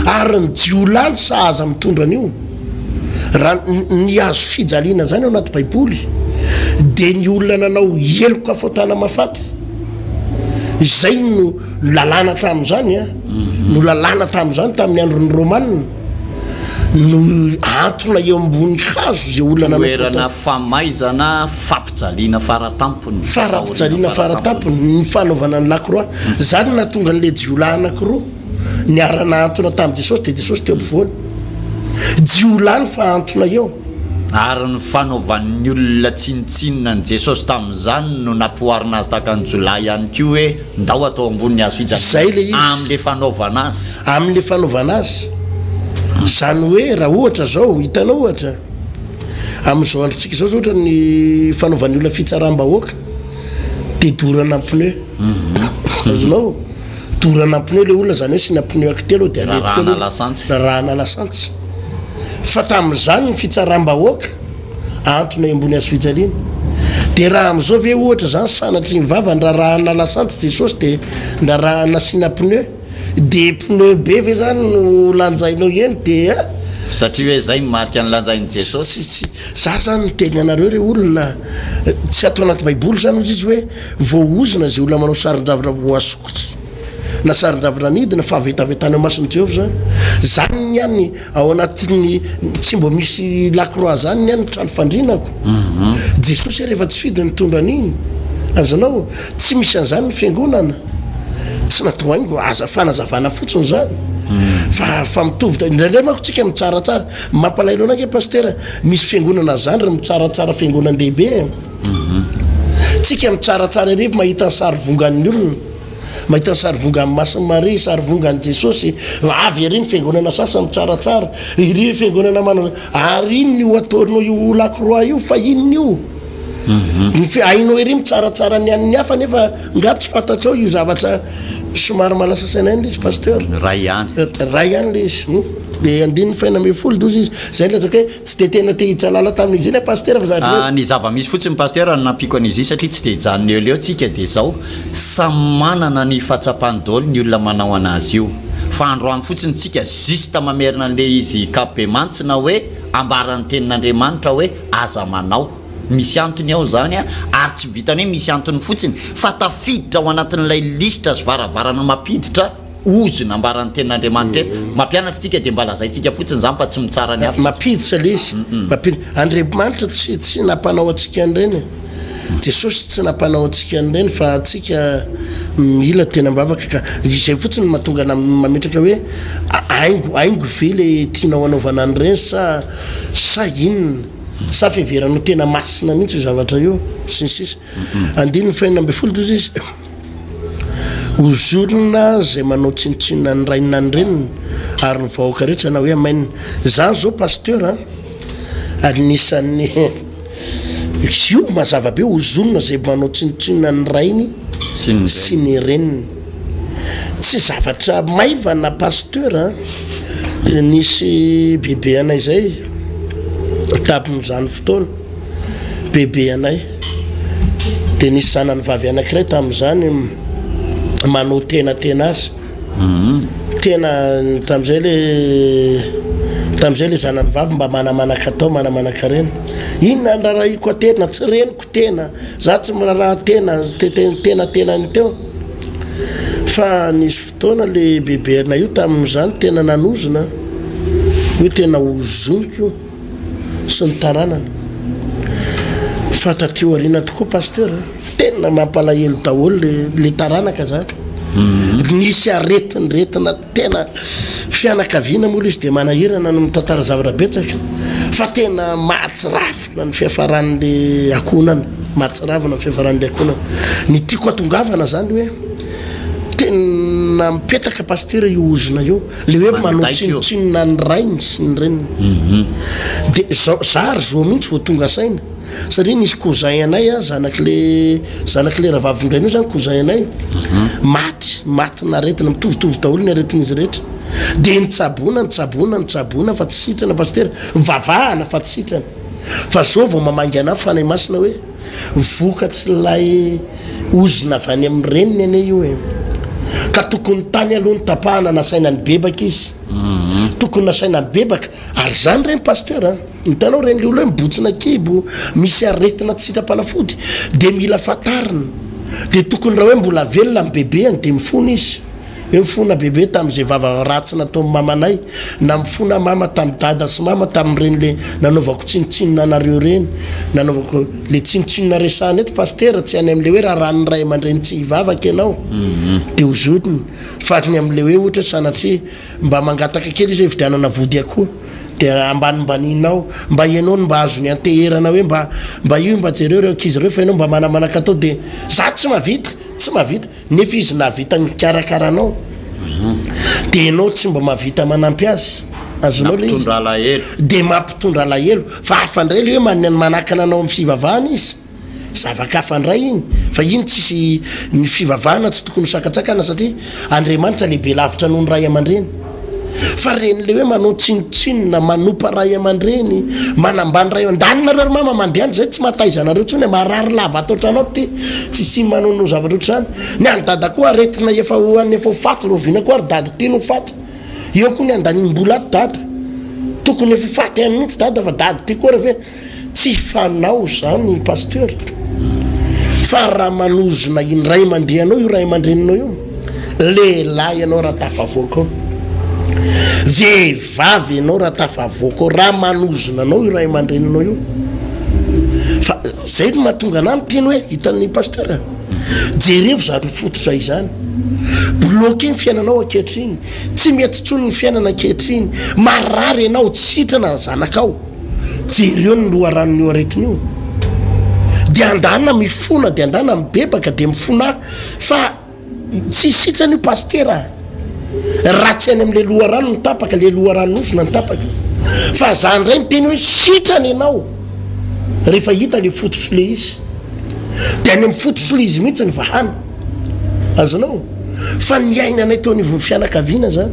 Speaker 3: ary ny jiolany sahaza mitondra an'io raha ny azo fijaliana zany ao anaty baiboly dia ny olona nanao heloka fao tana mafaty izay no Nolalana tamin'izany a, nolalana tamin'izany tamin'ny andron'ny Romanina, no antona eo ambony hazo izay olona nanao fotaka. Toerana famaizana
Speaker 2: fampijaliana faratampony. Fampijaliana
Speaker 3: faratampony ny fanaovana ny lakroa. Izany no nahatonga an'ilay jiolahy anankiroa niara-nahantona tamin'i Jesosy, dia Jesosy teo ampovoany. Jiolahy ny fahantona eo. Ary ny
Speaker 2: fanaovan'ny olona tsinontsinona an'i Jesosy tamin'izany no nampihoarina azy tahaka ny jiolahy ihany koa hoe. Ndao atao ambonin'ny hazo Izay le fijanonana izy. amin'le
Speaker 3: fanaovana
Speaker 2: azy. Amin'le fanaovana
Speaker 3: azy. Izany hoe raha ohatra izao, hitanao ohatra, amin'izao androntsika izao izao ohatra ny fanaovan'ny olona fitsaram-bahoaka dia dorana pneu. Azonao? Dorana pneu le olona izany hoe asiana pneu akitelo eo dia aletika eo le Rarahana olona. lasantsy. Rarahana lasantsy. Fa tamin'izany ny fitsaram-bahoaka. Antony iambony azo fijaliana. Dia raha amin'izao ve ohatra izany sanatria ny vavany rarahanà lasantsy Jesosy dia ndrarahana asiana pneu? Dia pneu be ve izany no lanjainao eny dia. Satria hoe izay
Speaker 2: no marika nolanjain'i Jesosy? Tsy, tsy. Izaho izany
Speaker 3: niteny anareo re olona, tsy ato anaty Baiboly izany hozy izy hoe voaozona izay olona manao sarin-javatra voasokitra na sarin-javatra nidina, fahavetavetana eo mason'i Jehovah izany. Izany ihany. Ao anatin'ny tsy mbo misy lakroa zany ny an'ny trano fandrinako. Jesosy ary efa tsy fidy nitondra an'iny. Azonao? Tsy misy an'zany ny fiangonana. Tsy natao haingo, aza fanazavana fotsiny zany. Fa fa mitovy da indraindray manko tsika mitsaratsara. Mampalahelo anay nge Pastera, misy fiangonana zany ry mitsaratsara fiangonan-dehibe e. Tsika mitsaratsara ery mahita ny sarivongan'ny olona. Mahita ny sarivongan'ny Masin'i Maria, sarivongan'i Jesosy, avy ery ny fiangonana sasany mitsaratsara, iry fiangonana manao hoe, ary inona io ataonao io lakroa io fa inona io? Mhm. Ny fi- hainao ery mitsaratsara ny an'ny hafa nefa nga tsy fantatrao io zavatra somary malasa saina ihany le izy pasteur. Ny ray ihany. Eh,
Speaker 2: Ray ihany le
Speaker 3: izy. Hmm? Dia andininy faina ambin'ny folo doza izy. Izay no lazaiko hoe tsy dia tena te hijalala tamin'izy iny a pasteur fa zavatra hoe Ah, ny zava-misy fotsiny pasteur
Speaker 2: no nampiako an'izy iny satria tsy dia hijanona eo leo tsika dia zao Samy manana ny fahatsapany daholo ny olona manao anazy io fa androany fotsiny tsika juste mamerina anle izy kabemantsina hoe ambarany tenin'Andriamanitra hoe aza manao misy antony ao zany a ary tsy vitany hoe misy antony fotsiny fa tafiditra ao anatin'ilay lisitra sy varavarana mapiditra ozona ambaran'ny tenin'Andriamanitra eto. Mampianatra isika dia mba lazaintsika fotsiny izany fa tsy mitsara ny hafa. Mampiditra ilay
Speaker 3: izy. Andriamanitra tsy tsy nampanao antsika an'ireny e. Jesosy tsy nampanao antsika an'ireny fa antsika mila teny am-bavaka ka. Izay fotsiny no mahatonga anà mametraka hoe haingo haingo ve ilay tianao hanaovana an'ireny sa sa inona. Sa fiheveranao tena masina mihitsy io zavatra io. Sy ny sisa. Andininy fahenina ambin'ny folo toy izy, Hozorina izay manao tsinontsinona ny rainy na ny reniny ary ny vahoaka rehetra na hoe hamainina. Izaho izao pasteur an, anisan'ny io mazava be, hozonina izay manao tsinontsinona ny rainy sy ny reniny. Tsy zavatra maivana Pasteur a! Dia nisy bebe anay zay tamin'izany fotoana, bebe anay, dia nisy zanany vavy anankiray tamin'izany manao tena tena azy, tena tamin'izay le tamin'izay le zanany vavy mba manamanaka tao, manamanaka reny, inona no rarahiko aterina? Tsy reniko. tena za tsy miraraha tena tena tena ny teo fa nisy fotoana le beberina io tamin'izany tena nanozona io tena hozoniko io sy ny taranany fa tatio ariana tokoa pasteur tena mampalahelo daholo le le taranaka zany nisy aretinretina Tena fianakaviana moa ilay izy dia manahirana no mitantara zavatra betsaka fa tena mahatsiravina ny fiafaran'ilay akohonana, mahatsiravina ny fiafaran'ilay akohonana. Ny tiako hatongavana izany hoe tena mipetaka Pasitera io ozona io, ilay hoe manao tsinontsinona ny rainy sy ny reniny. Dia izao, izaho ary izao mihitsy vao tonga saina. satria nisy cousin anay a zanak'le zanak'le rahavavindrainao zany cousin anay maty matin'aretina mitovitovy daholo ny aretin'izy rehetra de nitsaboana nitsaboana nitsaboana fa tsy sitrana pasitera vavahana fa tsy sitrana fa zao vao mamangy anahy fanahy masina hoe vokatry lay ozina avy any amin'ny reniny ane io e ka tokony tany aloha ny tapahana nasaina nibebaka izy tokony nasaina nibebaka ary zany reny pasitera Hitanao ireny le olona hoe mibotsina kibo, misy aretina tsy sitrapanafody de mila fantarina, de tokony raha hoe mbola velona ny bebeany de mifona izy hoe mifona bebe tamzay vava ratsy nataony mamanay na mifona mama tamy dada sy mama tamreny le nanaovako tsinotsinona anareo reny nanaovako le tsinotsinona resahana eto pasitera tsy any amle hoe raran'ny ray amandreny tsy hivavaka ianao de hozotiny fa ny amle hoe ohatra sanatria mba mangataka kely izy hoe hividianana vody akoho dia ambanimbaninao mba ianao no mba azony anteherana hoe mba mba io mba jereo ireo ankizy ireo fa ianao mba manamanaka atao dia za tsy mavita tsy mavita nefa izy navita nikarakara anao mhm. dia ianao tsy mba mavita manampy azy azonao le izy dia mampitondra alahelo fa afandray le hoe manakana anao amin'ny fivavahana izy Zava-kafa ndray iny fa iny tsisy ny fivavahana tsy tokony ho sakatsakana satria Andriamanitra lehibe lavitra noho ny ray aman-dreny. Fa reny le hoe manao tsinotsinona, manopa ray aman-dreny, manambany ray an-daniny nareo ry mama mandiany zay tsy mahataiza anareo tsony marary lava ato an-trano ato ty tsy sy manao no zavatra otr'zany. Ny an'i dada koa aretina efa ho any efa ho faty roviana koa ry dada ty no faty. Eo koa ny andaniny mbola ato dada. Tokony efa ho faty any mihitsy dada fa dada ty koa re ve Tsy fanao zany Pasteur fa raha manozona indray mandeha anao io ray aman-dreninao io, lehilahy ianao raha tafavoaka ao, vehivavy ianao raha tafavoaka ao, raha manozona anao io ray aman-dreninao io, fa zay no mahatonga anah miteny hoe hitan'ny Pasteur a, jerevo zany fototra izany, bloqué ny fiainanao ankehitriny, tsy mety intsony ny fiainana ankehitriny, marary ianao, tsy sitrana ny zanakao. Jereo ny loharanon'io aretina io. Dia andana mifona, dia andana mibebaka, dia mifona fa tsy isitsany io pastera. Raha tsy any amin'ilay loharano ny tapaka, ilay loharanon'osona ny tapaka. Fa za indray miteny hoe sitrana ianao rehefa hita ilay fototr'ilay izy. Dia any amin'ny fototr'ilay izy mihitsy ny vahana. Azonao? Fa niainanay teo anivon'ny fianakaviana zany.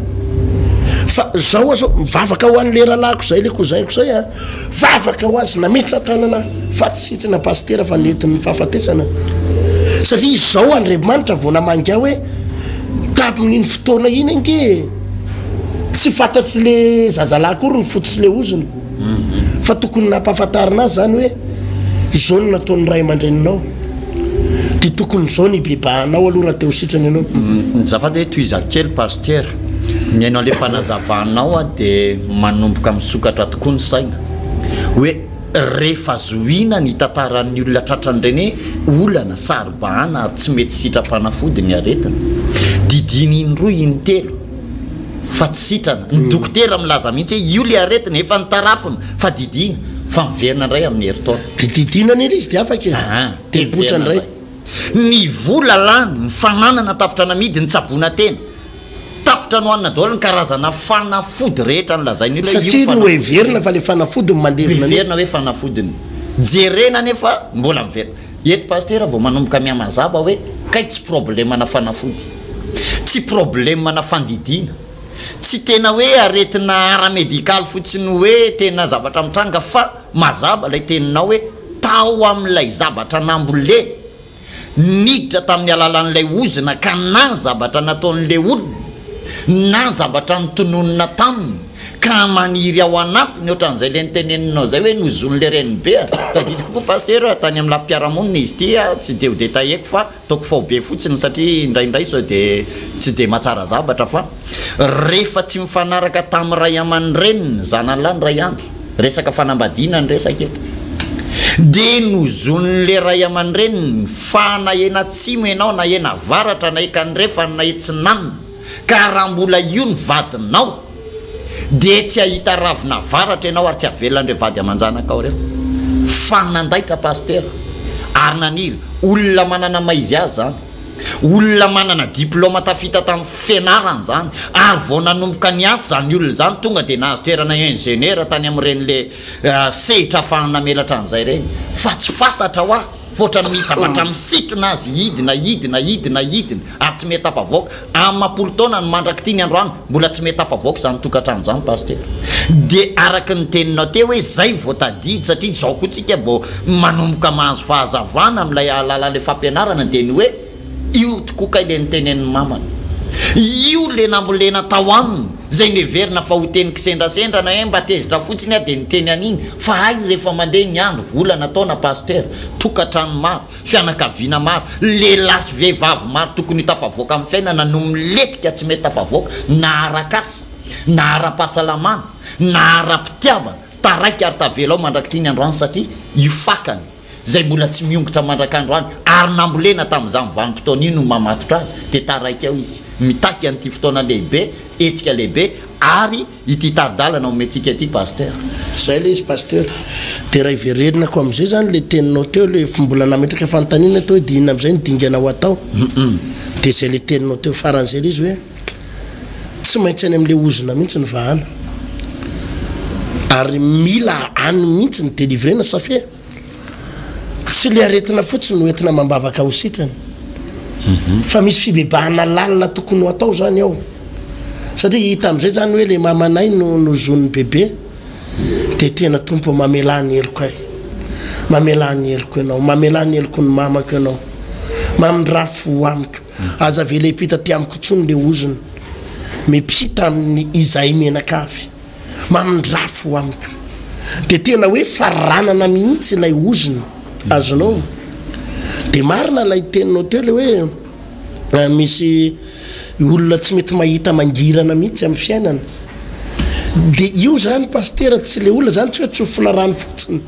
Speaker 3: Fa zao azao mivavaka ho an'ny leralahiko izay le kozaiko zay a. Vavaka ho azy nametsa tanana fa tsy sitrana pasitera fa nentin'ny fahafatesana. Satria izao Andriamanitra vao namangy ahy hoe tamin'iny fotoana iny ange tsy fantatsy le zazalahy akory ny foto sy le ozony. Fa tokony nampahafantarina azy zany hoe izao no nataon'ny ray aman-dreninao. Dia tokony izao ny hibebahanao aloha raha te ho sitrana ianao. Azafady hoe
Speaker 2: tohizako kely Pasitera. Mihaino an'ilay fanazavanao aho dia manomboka misokatra tokoa ny saina. Hoe rehefa zohiana ny tantaran'ny olona tratran'ireny hoe olana, saro-bahana ary tsy mety sitram-panafody ny aretina. Didiany in-droa in-telo. fa tsy sitrana. Ny dokotera milaza mihitsy hoe io ilay aretina, efa notarafina fa didiana fa miverina indray amin'ny herintaona. Dia didiana anie ilay izy
Speaker 3: dia afaka e. Aa, dia mipoitra indray. Ny
Speaker 2: vola lany, ny fananana tapitra namidy, ny tsaboina tena. Tapitra nohanina daholo ny karazana fanafody rehetra nolazain'io ilay io fanafody. Satria noheverina
Speaker 3: fa ilay fanafody no mandevina an'io. Miverina hoe fanafodiny.
Speaker 2: Jerena anefa mbola miverina. Eto Pasitera vao manomboka mihamazaba hoe kay tsy problemana fanafody, tsy problemana fandidiana, tsy tena hoe aretina ara-medikaly fotsiny hoe tena zavatra mitranga fa mazava ilay teninao hoe tao amin'ilay zavatra nambolena, niditra tamin'ny alalan'ilay ozona ka na zavatra nataon'ilay olona na zavatra notononina taminy, Ka maniry ao anatiny ohatran'izay le niteneninao zay hoe nozonin'ny le renibe a! Tadidiko koa Pasitera tany amin'ny lafim-piarahamonina izy ity a, tsy de ho detailleko fa ataoko faobe fotsiny satria indraindray sao de tsy de mahatsara zavatra fa rehefa tsy mifanaraka tamin'ny ray aman-dreniny ny zanalahy ny ray andro, resaka fanambadiana ny resaka eto, de nozonin'ny le ray aman-dreniny fa na eny atsimo ianao na eny avaratra na ekany refany na etsinanona, ka raha mbola io ny vadinao dia tsy hahita ravinavaratra ianao ary tsy havelan'ireo vady aman-janakao ireo. Fa nandaitra Pasitera ary naniry olona manana maha izy azy izany. Olona manana diplaoma tafita tamin'ny fianarana izany ary vao nanomboka niasa izany olona izany tonga dia nahazo toerana injeniera tany amin'ireny le sehitra afahany namelatra an'izay ireny. Fa tsy fantatra hoa. Mivoatra amin'ny zavatra misintona azy hidina, hidina, hidina, hidina ary tsy mety afavoaka. Amam-polo taona no mandrak'ity ny androany, mbola tsy mety afavoaka izany tokantrano izany Pasitera. Dia araka ny teninao teo hoe izay vao tadidy satria izao koa tsika vao manomboka mahazo fahazavana amin'ilay alala'ilay fampianarana dia ny hoe, Io tokoa kay le nitenenin'i mamany. Io le nambolena tao aminy zay neverina fa ho teny kisendrasendra na eh mba tezitra fotsiny ah de niteny an'iny fa hay refa mandeha ny andro, volana, taona, pasitera, tokatrano maro, fianakaviana maro, lehilahy sy vehivavy maro tokony ho tafavoaka amin'ny fiainana no miletika tsy mety tafavoaka na ara-kasa na ara-pahasalamana na ara-pitiavana, taraiky ary tavela ao mandrak'ity ny androany satria io fakany. izay mbola tsy miongotra mandrak'andro any ary nambolena tamin'izany vanim-potoana io no mamatotra azy dia taraiky ao izy mitaky an'ity fotoana lehibe hetsika lehibe ary ity tari-dalana omentsika ity Pasteur. Izay ilay izy
Speaker 3: Pasteur. Dia raha hiverenako amin'izay izany ilay teninao teo ilay efa mbola nametraka fanontaniana teo hoe dia inona amin'izay no dingana ho atao? Dia izay ilay teninao teo faran'izay ilay izy hoe. tsy maintsy any amle ozona mihitsy ny vahana ary mila any mihitsy ny delivrena safia tsy le aretina fotsiny no entina mambavaka ho sitrany mhm. fa misy fibebahana lalina tokony ho atao zany ao satria hita am'izay zany hoe le mamanay no nozon'ny bebe de tena tompo mamela ny eloko ay mamela ny eloko ianao mamela ny eloko ny mamako ianao mamindra fo amiko Aza avela hipita aty amiko intsony le ozona. Mipita aminy izahay menaka avy. Mamindrafo ho amiko. De tena hoe faranana mihitsy ilay ozona. Azonao? De marina ilay teninao teo le hoe misy olona tsy mety mahita mangirana mihitsy amin'ny fiainana. De io zany Pasitera tsy le olona zany tsy hoe tsofina rano fotsiny.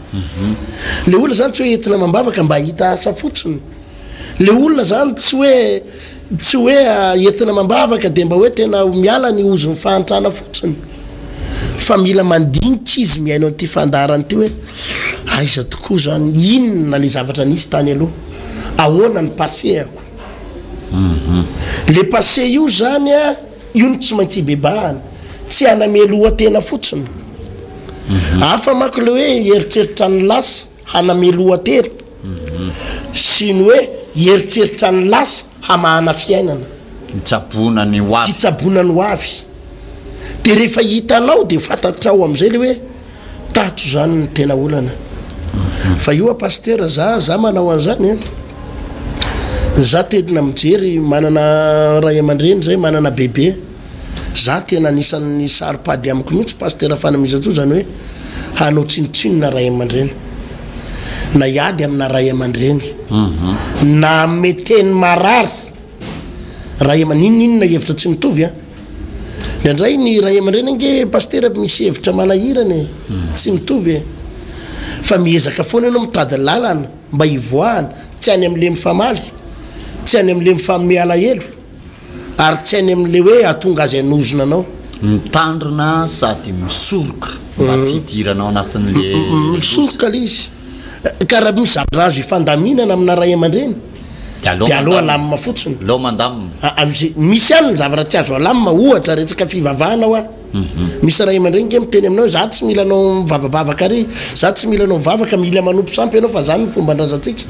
Speaker 3: Le olona zany tsy hoe entina amam-bavaka mba hahita asa fotsiny. Le olona zany tsy hoe tsy hoe entina amam-bavaka dia mba hoe tena miala ny ozon'ny fahantrana fotsiny fa mila mandinika izy mihaino an'ity fandaharana ity hoe aiza tokoa zany, inona le zavatra nisy tany aloha, ahoana ny passé-ako. Mhm. Le passé io zany a, io no tsy maintsy ibebahana, tsy haname lohatena fotsiny. Mhm. Hafa manko le hoe hieritseritra ny lasa. Hanamelohan-tery sy ny hoe hieritseritra ny lasa, hamahana fiainana. Hitsaboana
Speaker 2: ny ho avy. Hitsaboana ny ho
Speaker 3: avy. Dia rehefa hitanao dia fantatrao amin'izay ilay hoe tato izany no tena olana. Fa io a Pasitera, za, za manao an'izany e. Za tena mijery, manana ray aman-dreny zay, manana bebe. Za tena anisan'ny saro-pady amiko mihitsy Pasitera Fanamisan-tsoa izany hoe hanao tsinontsinona ray aman-dreny. Na hiady amina ray aman-dreny. Na meteny marary ray aman n'inon'inona hevitra tsy mitovy an. Indraindray ny ray aman-dreny ange Pasitera misy hevitra manahirana e. Tsy mitovy e. Fa miezaka foana ianao mitady lalana mba hivoahana, tsy any amin'le mifamaly, tsy any amin'le mifanome alahelo. Ary tsy any amin'ilay hoe hahatonga azy hanozona anao. Mitandrina
Speaker 2: sady misoroka mba tsy hidiranao anatin'ilay loza. Misoroka
Speaker 3: ilay izy. Ka raha misy zavatra azo ifandaminana amina ray aman-dreny, dia aleo alamina fotsiny. Aleo mandamina. Misy ihany ny zavatra tsy azo alamina, ohatra, resaka fivavahana hoa. Misy ray aman-dreny nge miteny aminao hoe za tsy mila anao mivavabavaka ary za tsy mila anao mivavaka mila manompo sampy ianao fa zany ny fomban-drazantsika.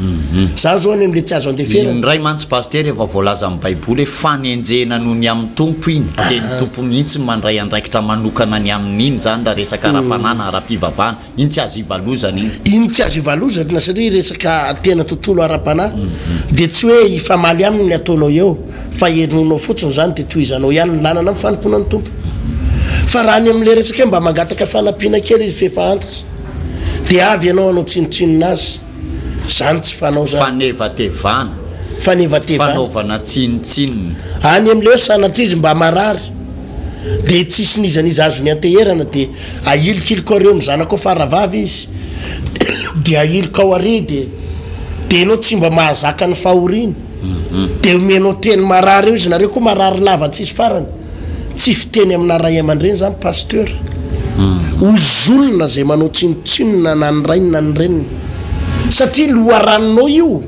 Speaker 3: Za zao any amle tsy azo andeferana. Indray mantsy Pasitera efa
Speaker 2: voalaza amin'ny baiboly hoe fanenjehina noho ny amin'ny Tompo iny dia ny Tompo mihitsy no mandray andraikitra manokana ny amin'iny zany raha resaka ara-panahy na ara-pivavahana. Iny tsy azo ivalozana iny. Iny tsy azo
Speaker 3: ivalozana satria resaka tena tontolo ara-panahy dia tsy hoe hifamaly aminy ny ataonao eo fa henoinao fotsiny izany dia tohizanao ihany ny lalana amin'ny fanompoana ny Tompo. Fa raha ny amin'ilay resaka hoe mba mangataka fanampiana kely izy f'efa antitra dia avy ianao hanao tsinontsinona azy. Izany tsy fanao izany. Fanevatevana. Fanevatevana.
Speaker 2: Fanaovana tsinontsinona. Any amin'ilay hoe
Speaker 3: sanatria izy mba marary dia tsisy n'iza n'iza azony anteherana dia ahilikiliko ary eo amin'ny zanakao faravavy izy dia ahilikao ary dia dia ianao tsy mba mahazaka ny fahoriany dia omenao teny marary eo izy nareo koa marary lava tsisy farany. Tsy fiteny amina ray aman-dreny zany pasteur. Ozonina zay manao tsinotsinona na ny rainy na ny reniny. Satria loharanonao io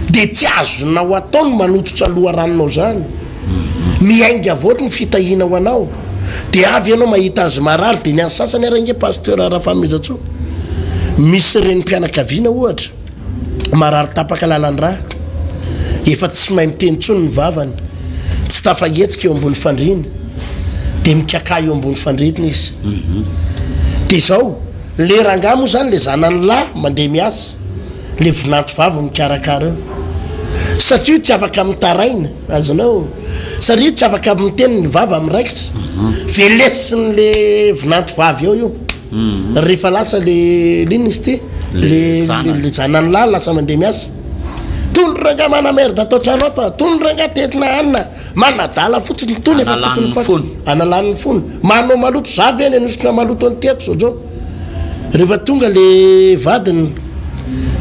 Speaker 3: de tsy azonao atao ny manototra loharanonao zany. Miainga avy ohatry ny fitahiana ho anao. De avy ianao mahita azy marary de ny an'ny sasany ary ange pasteur Rafaminjatsoa misy renim-pianakaviana ohatra. Marary tapaka lalan-drà, efa tsy mahay miteny intsony ny vavany, tsy tafahetsika eo ambony fandriana, dia mikakà eo ambony fandriana izy. Dia izao, ilay rangahy moa izany, ilay zanany lahy mandeha miasa, ilay vinanto vavy mikarakara eo. Satria io tsy afaka mitaraina, azonao? Satria io tsy afaka miteny, ny vava miraikitra. Velesin'ilay vinanto vavy eo io. Rehefa lasa le lina izy ty le le zanany lahy lasa mandeha miasa. Tony rangah mana merde ato an-trano ato a, tony rangah tetina hanina manadala fotsiny tony efa tokony fa analany ny fony. Manao maloto za ve any anositra maloto an'ity ato zao zao. Rehefa tonga le vadiny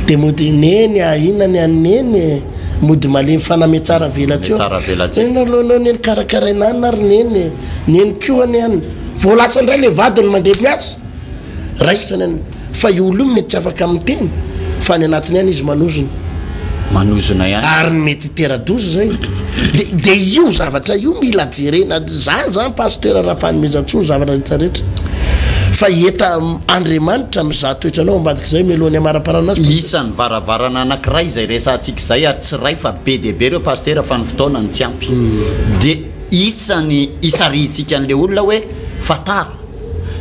Speaker 3: de mody neny a inona ny an'i neny e, mody malemy faname tsara velatsiho. Enao aloha enao neny karakaraina any na ry neny e, neny koa anie any. Vao lasa indray le vadiny mandeha miasa. Raisina ny fa io olona io mety tsy afaka miteny fa any anatiny any izy manozona.
Speaker 2: Manozona ihany. Ary mety hitera-doza
Speaker 3: zay. De de io zavatra io mila jerena zany zany Pasteur Rafanomezantsoa ny zavatra rehetra rehetra. Fa eta Andriamanitra mizaha toetranao ambadik'izay mialoha ny hamaraparana azy. Isany varavarana
Speaker 2: anakiray izay resahantsika izay ary tsy iray fa be dia be ireo Pasteur fa ny fotoana no tsy ampy. De. Isany isarihintsika an'ilay olona hoe fantaro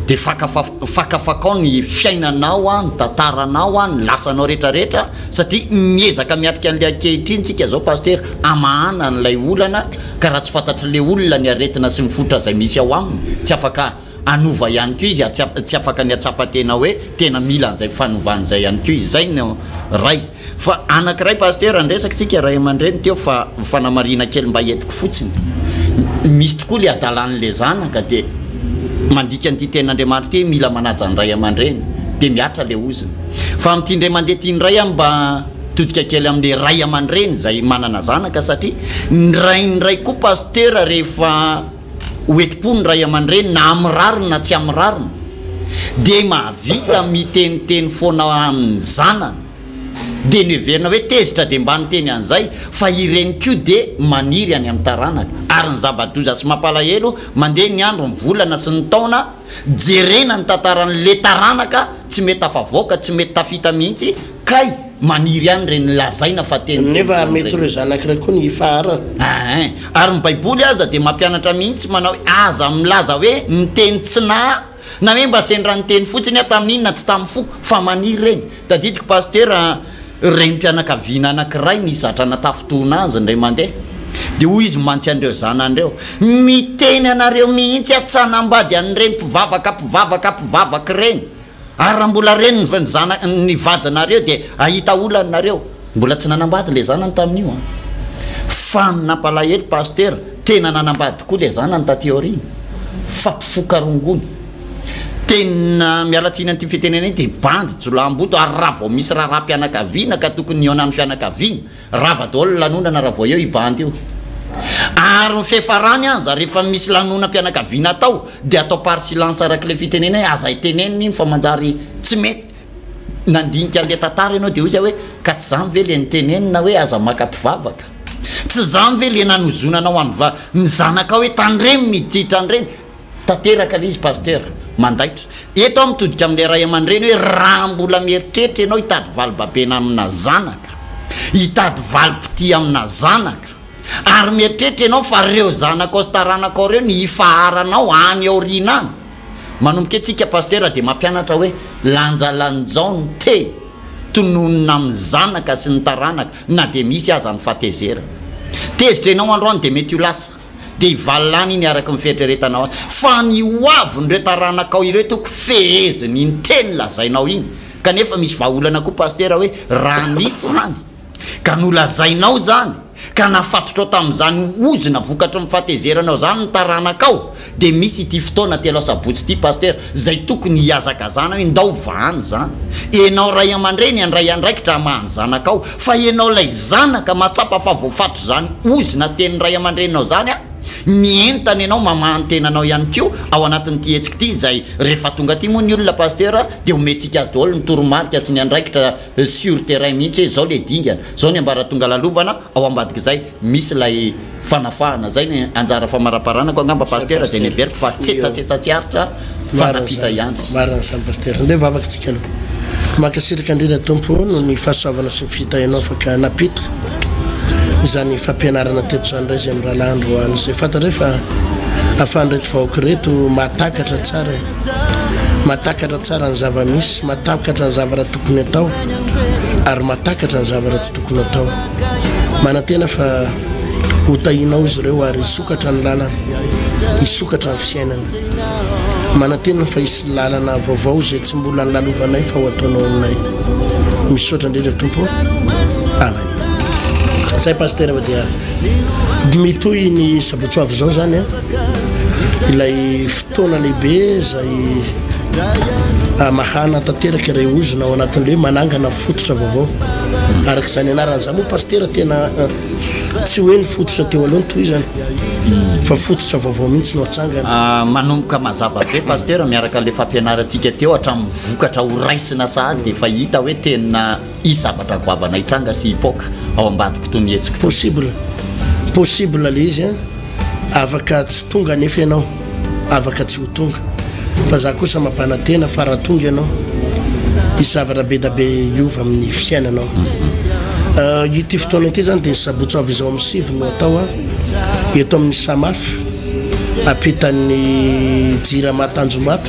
Speaker 2: dia faka faka fakao ny fiainanao an, ny tantaranao an, ny lasanao rehetra rehetra satria miezaka miatrika an'ilay ankehitriny tsika zao Pasitera hamahana an'ilay olana ka raha tsy fantatr'ilay olona ny aretina sy ny fototra izay misy ao aminy tsy afaka hanova ihany koa izy ary tsy afaka ny hatsapa tena hoe tena mila an'izay fanovana izay ihany koa izy. Izay no ray. Fa anankiray Pasteur ny resaka tsika ray aman-dreny teo fa fanamarihina kely mba entiko fotsiny. Misy tokoa le adalan' le zanaka dia mandika an'ity tenin' Andriamanitra ity hoe mila manaja ny ray aman-dreny dia mihatra le ozona. Fa amin'ity indray mandeha ity indray aho mba hitodika kely amle ray aman-dreny izay manana zanaka satria ny rain'ny ray koa Pasteur rehefa ho enti-po ny ray aman-dreny na amin'ny rariny na tsy amin'ny rariny dia mahavita miteniteny foana amin'ny zanany dia noheverina hoe tezitra dia mba niteny an'izay fa ireny koa dia maniry any amin'ny taranaka ary ny zava-doza sy mampalahelo mandeha ny andro ny volana sy ny taona jerena ny tantaran'le taranaka tsy mety tafavoaka tsy mety tafita mihitsy Kay maniry ihany ireny lazaina fa teny teny Nefa mety ireny. ireo zanaka
Speaker 3: ireo koa ny hifaharana. Ain! Ary ny
Speaker 2: baiboly aza dia mampianatra mihitsy manao hoe aza milaza hoe niteny tsy na na hoe mba sendra niteny fotsiny aho tamin'iny na tsy tamin'ny foko fa maniry ireny. Tadidiko Pasitera renim-pianakaviana anankiray nisy zatra natafintohina azy indray mandeha dia hoy izy mantsy an'ireo zanany ireo miteny anareo mihitsy aho tsy hanambady an'ireny mpivavaka mpivavaka mpivavaka ireny Ary raha mbola reniny fa ny zana, ny vadinareo dia ahita olana nareo. Mbola tsy nanambady le zanany tamin'io an! Fa nampalahelo Pasitera, tena nanambady tokoa le zanany taty aoriana. Fa mpifoka rongony. Tena miala tsiny an'ity fitenenana ity, bandy jolaham-boto ary raha vao misy raharaham-pianakaviana ka tokony hihaona amin'ny fianakaviana, Rava daholo ny lanonana raha vao eo i bandy io. Ary ny fefarany aza rehefa misy lanonam-pianakaviana atao dia atao par silence araka ilay fitenena hoe aza itenenina iny fa manjary tsy mety. Nandinika an'ilay tantara ianao dia hoy zay hoe ka tsy zany ve ilay nitenenina hoe aza maka mpivavaka? Tsy zany ve ilay nanozonanao an'i va ny zanakao hoe tandremo ny ditra an'ireny? Tanteraka ilay izy Pasteur, mandaitra. Eto aho mitodika amin'ilay ray aman-dreny hoe raha mbola mieritreritra ianao hitady valibabena amina zanaka, hitady valim-pitia amina zanaka, ary mieritreritra ianao fa ireo zanakao sy taranakao ireo no hifaharanao any aoriana any. Manomboka etsy ika Pasteur dia mampianatra hoe lanjalanjao ny teny tononina amin'ny zanaka sy ny taranaka na dia misy aza ny fahatezerana. Tezitra ianao androany dia mety ho lasa. dia hivalàna iny araka ny fieritreretanao azy, fa ny hoavin'ireo taranakao ireo toko fehezin'iny teny lazainao iny, kanefa misy vahaolana koa Pasitera hoe raha nisy izany ka nolazainao izany ka nafatotrao tamin'izany ozona vokatry ny fahatezeranao izany ny taranakao dia misy ity fotoana telo asabotsy ity Pasitera Zay tokony hihazakazana hoe ndao vahany zany, enao ray amandreny andray andraikitra hamaha ny zanakao, fa enao lay zanaka matsapa fa voafatotry zany ozona sy tenin'ny ray amandreninao zany a, mientana enao mamaha ny tenanao ihany koa ao anatin'ity hetsika ity izay rehefa tonga aty moa ny olona Pasteur dia omentsika azy daholo ny toromarika sy ny andraikitra sur terrain mihitsy hoe zao le dingana, zao ny ambaratonga lalovana, ao ambadik'izay misy ilay fanafahana, zay ny anjara famaraparanako angamba Pasitera zay ny heveriko fa tsetsatsetsa tsy aritra fa nampita ihany. Marina izany Pasitera,
Speaker 3: ndeha mivavaka tsika aloha. Mankasitraka indrindra Tompo o noho ny fahasoavanao sy ny fitahianao afaka nampita izany fampianarana teto izany ndray zay mirahalahy androany zay fantatra hoe fa afahan'ireto vahoaka ireto mahatakatra tsara e. matakatra tsara ny zava-misy, matakatra ny zavatra tokony atao ary matakatra ny zavatra tsy tokony atao. Manantena fa hotahinao izy ireo ary hisokatra ny lalana, hisokatra ny fiainana. Manantena fa hisy lalana vaovao izay tsy mbola ny lalovanay fa ho ataonao aminay. Misaotra indrindra tompo. Amen. Zay pasteur dia mitohy ny sabotsoavy izao zany a. ilay fotoana lehibe izay amahana ah, tanteraka iray ozona ao anatin'le hoe manangana fototra vaovao araka izany anarana zany moa pastera tena eh, tsy hoe ny fototra teo aloha ny toy izany hmm. fa fototra vaovao mihitsy no atsangana ah, manomboka mazava
Speaker 2: be pastera miaraka le fampianarantsika teo hatramin'ny vokatra ho raisina sahady dia efa hita hoe tena hisy zavatra goavana hitranga sy hipoaka ao ambadiko toy ny hetsika. Possible.
Speaker 3: Possible le izy an. Afaka tsy tonga anefa ianao. Afaka tsy ho tonga. Fa za kosa mampanantena fa raha tonga ianao, hisy zavatra be da be hiova amin'ny fiainanao. Mhm. Euh, ity fotoana ity zany dia ny sabotsy avy izao amin'ny sivy no atao an. Eto amin'ny Samaf, ampitan'ny Jirama Tanjombato.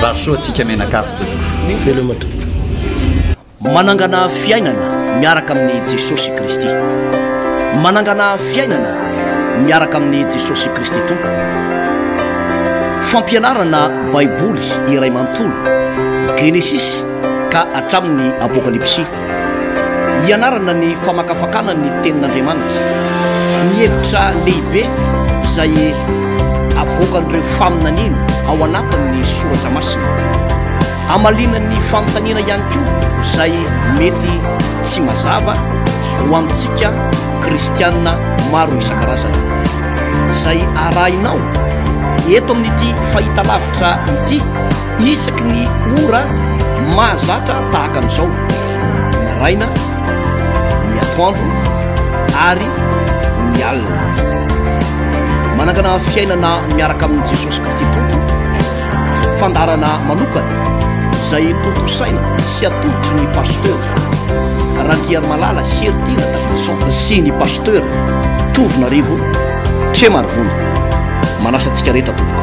Speaker 3: Vary soa antsika mianakavy
Speaker 2: tompoko. Veloma tompoko.
Speaker 1: Manangana fiainana miaraka amin'ny Jesosy Kristy. Manangana fiainana miaraka amin'ny Jesosy Kristy tompoko. Fampianarana Baiboly iray manontolo, Genesisy ka hatramin'ny Apokalypsy. Hianarana ny famakafakana ny tenin'Andriamanitra. Ny hevitra lehibe izay avoakan'ireo faminaniana ao anatin'ny soratra masina. Hamaliana ny fanontaniana ihany koa izay mety tsy mazava ho antsika kristiana maro isan-karazany. Izay arahinao eto amin'ity fahitalavitra ity Isaky ny ora mahazatra tahaka an'izao, ny maraina, ny atoandro ary ny alina. Manangana fiainana miaraka amin'i Jesosy Kristy Tompo, fandaharana manokana izay tontosaina sy atolotry ny pasteur Randriarimalala Heritiana Davidson sy ny pasteur Tovonarivo Tremarivony. Manasa antsika rehetra tompoko.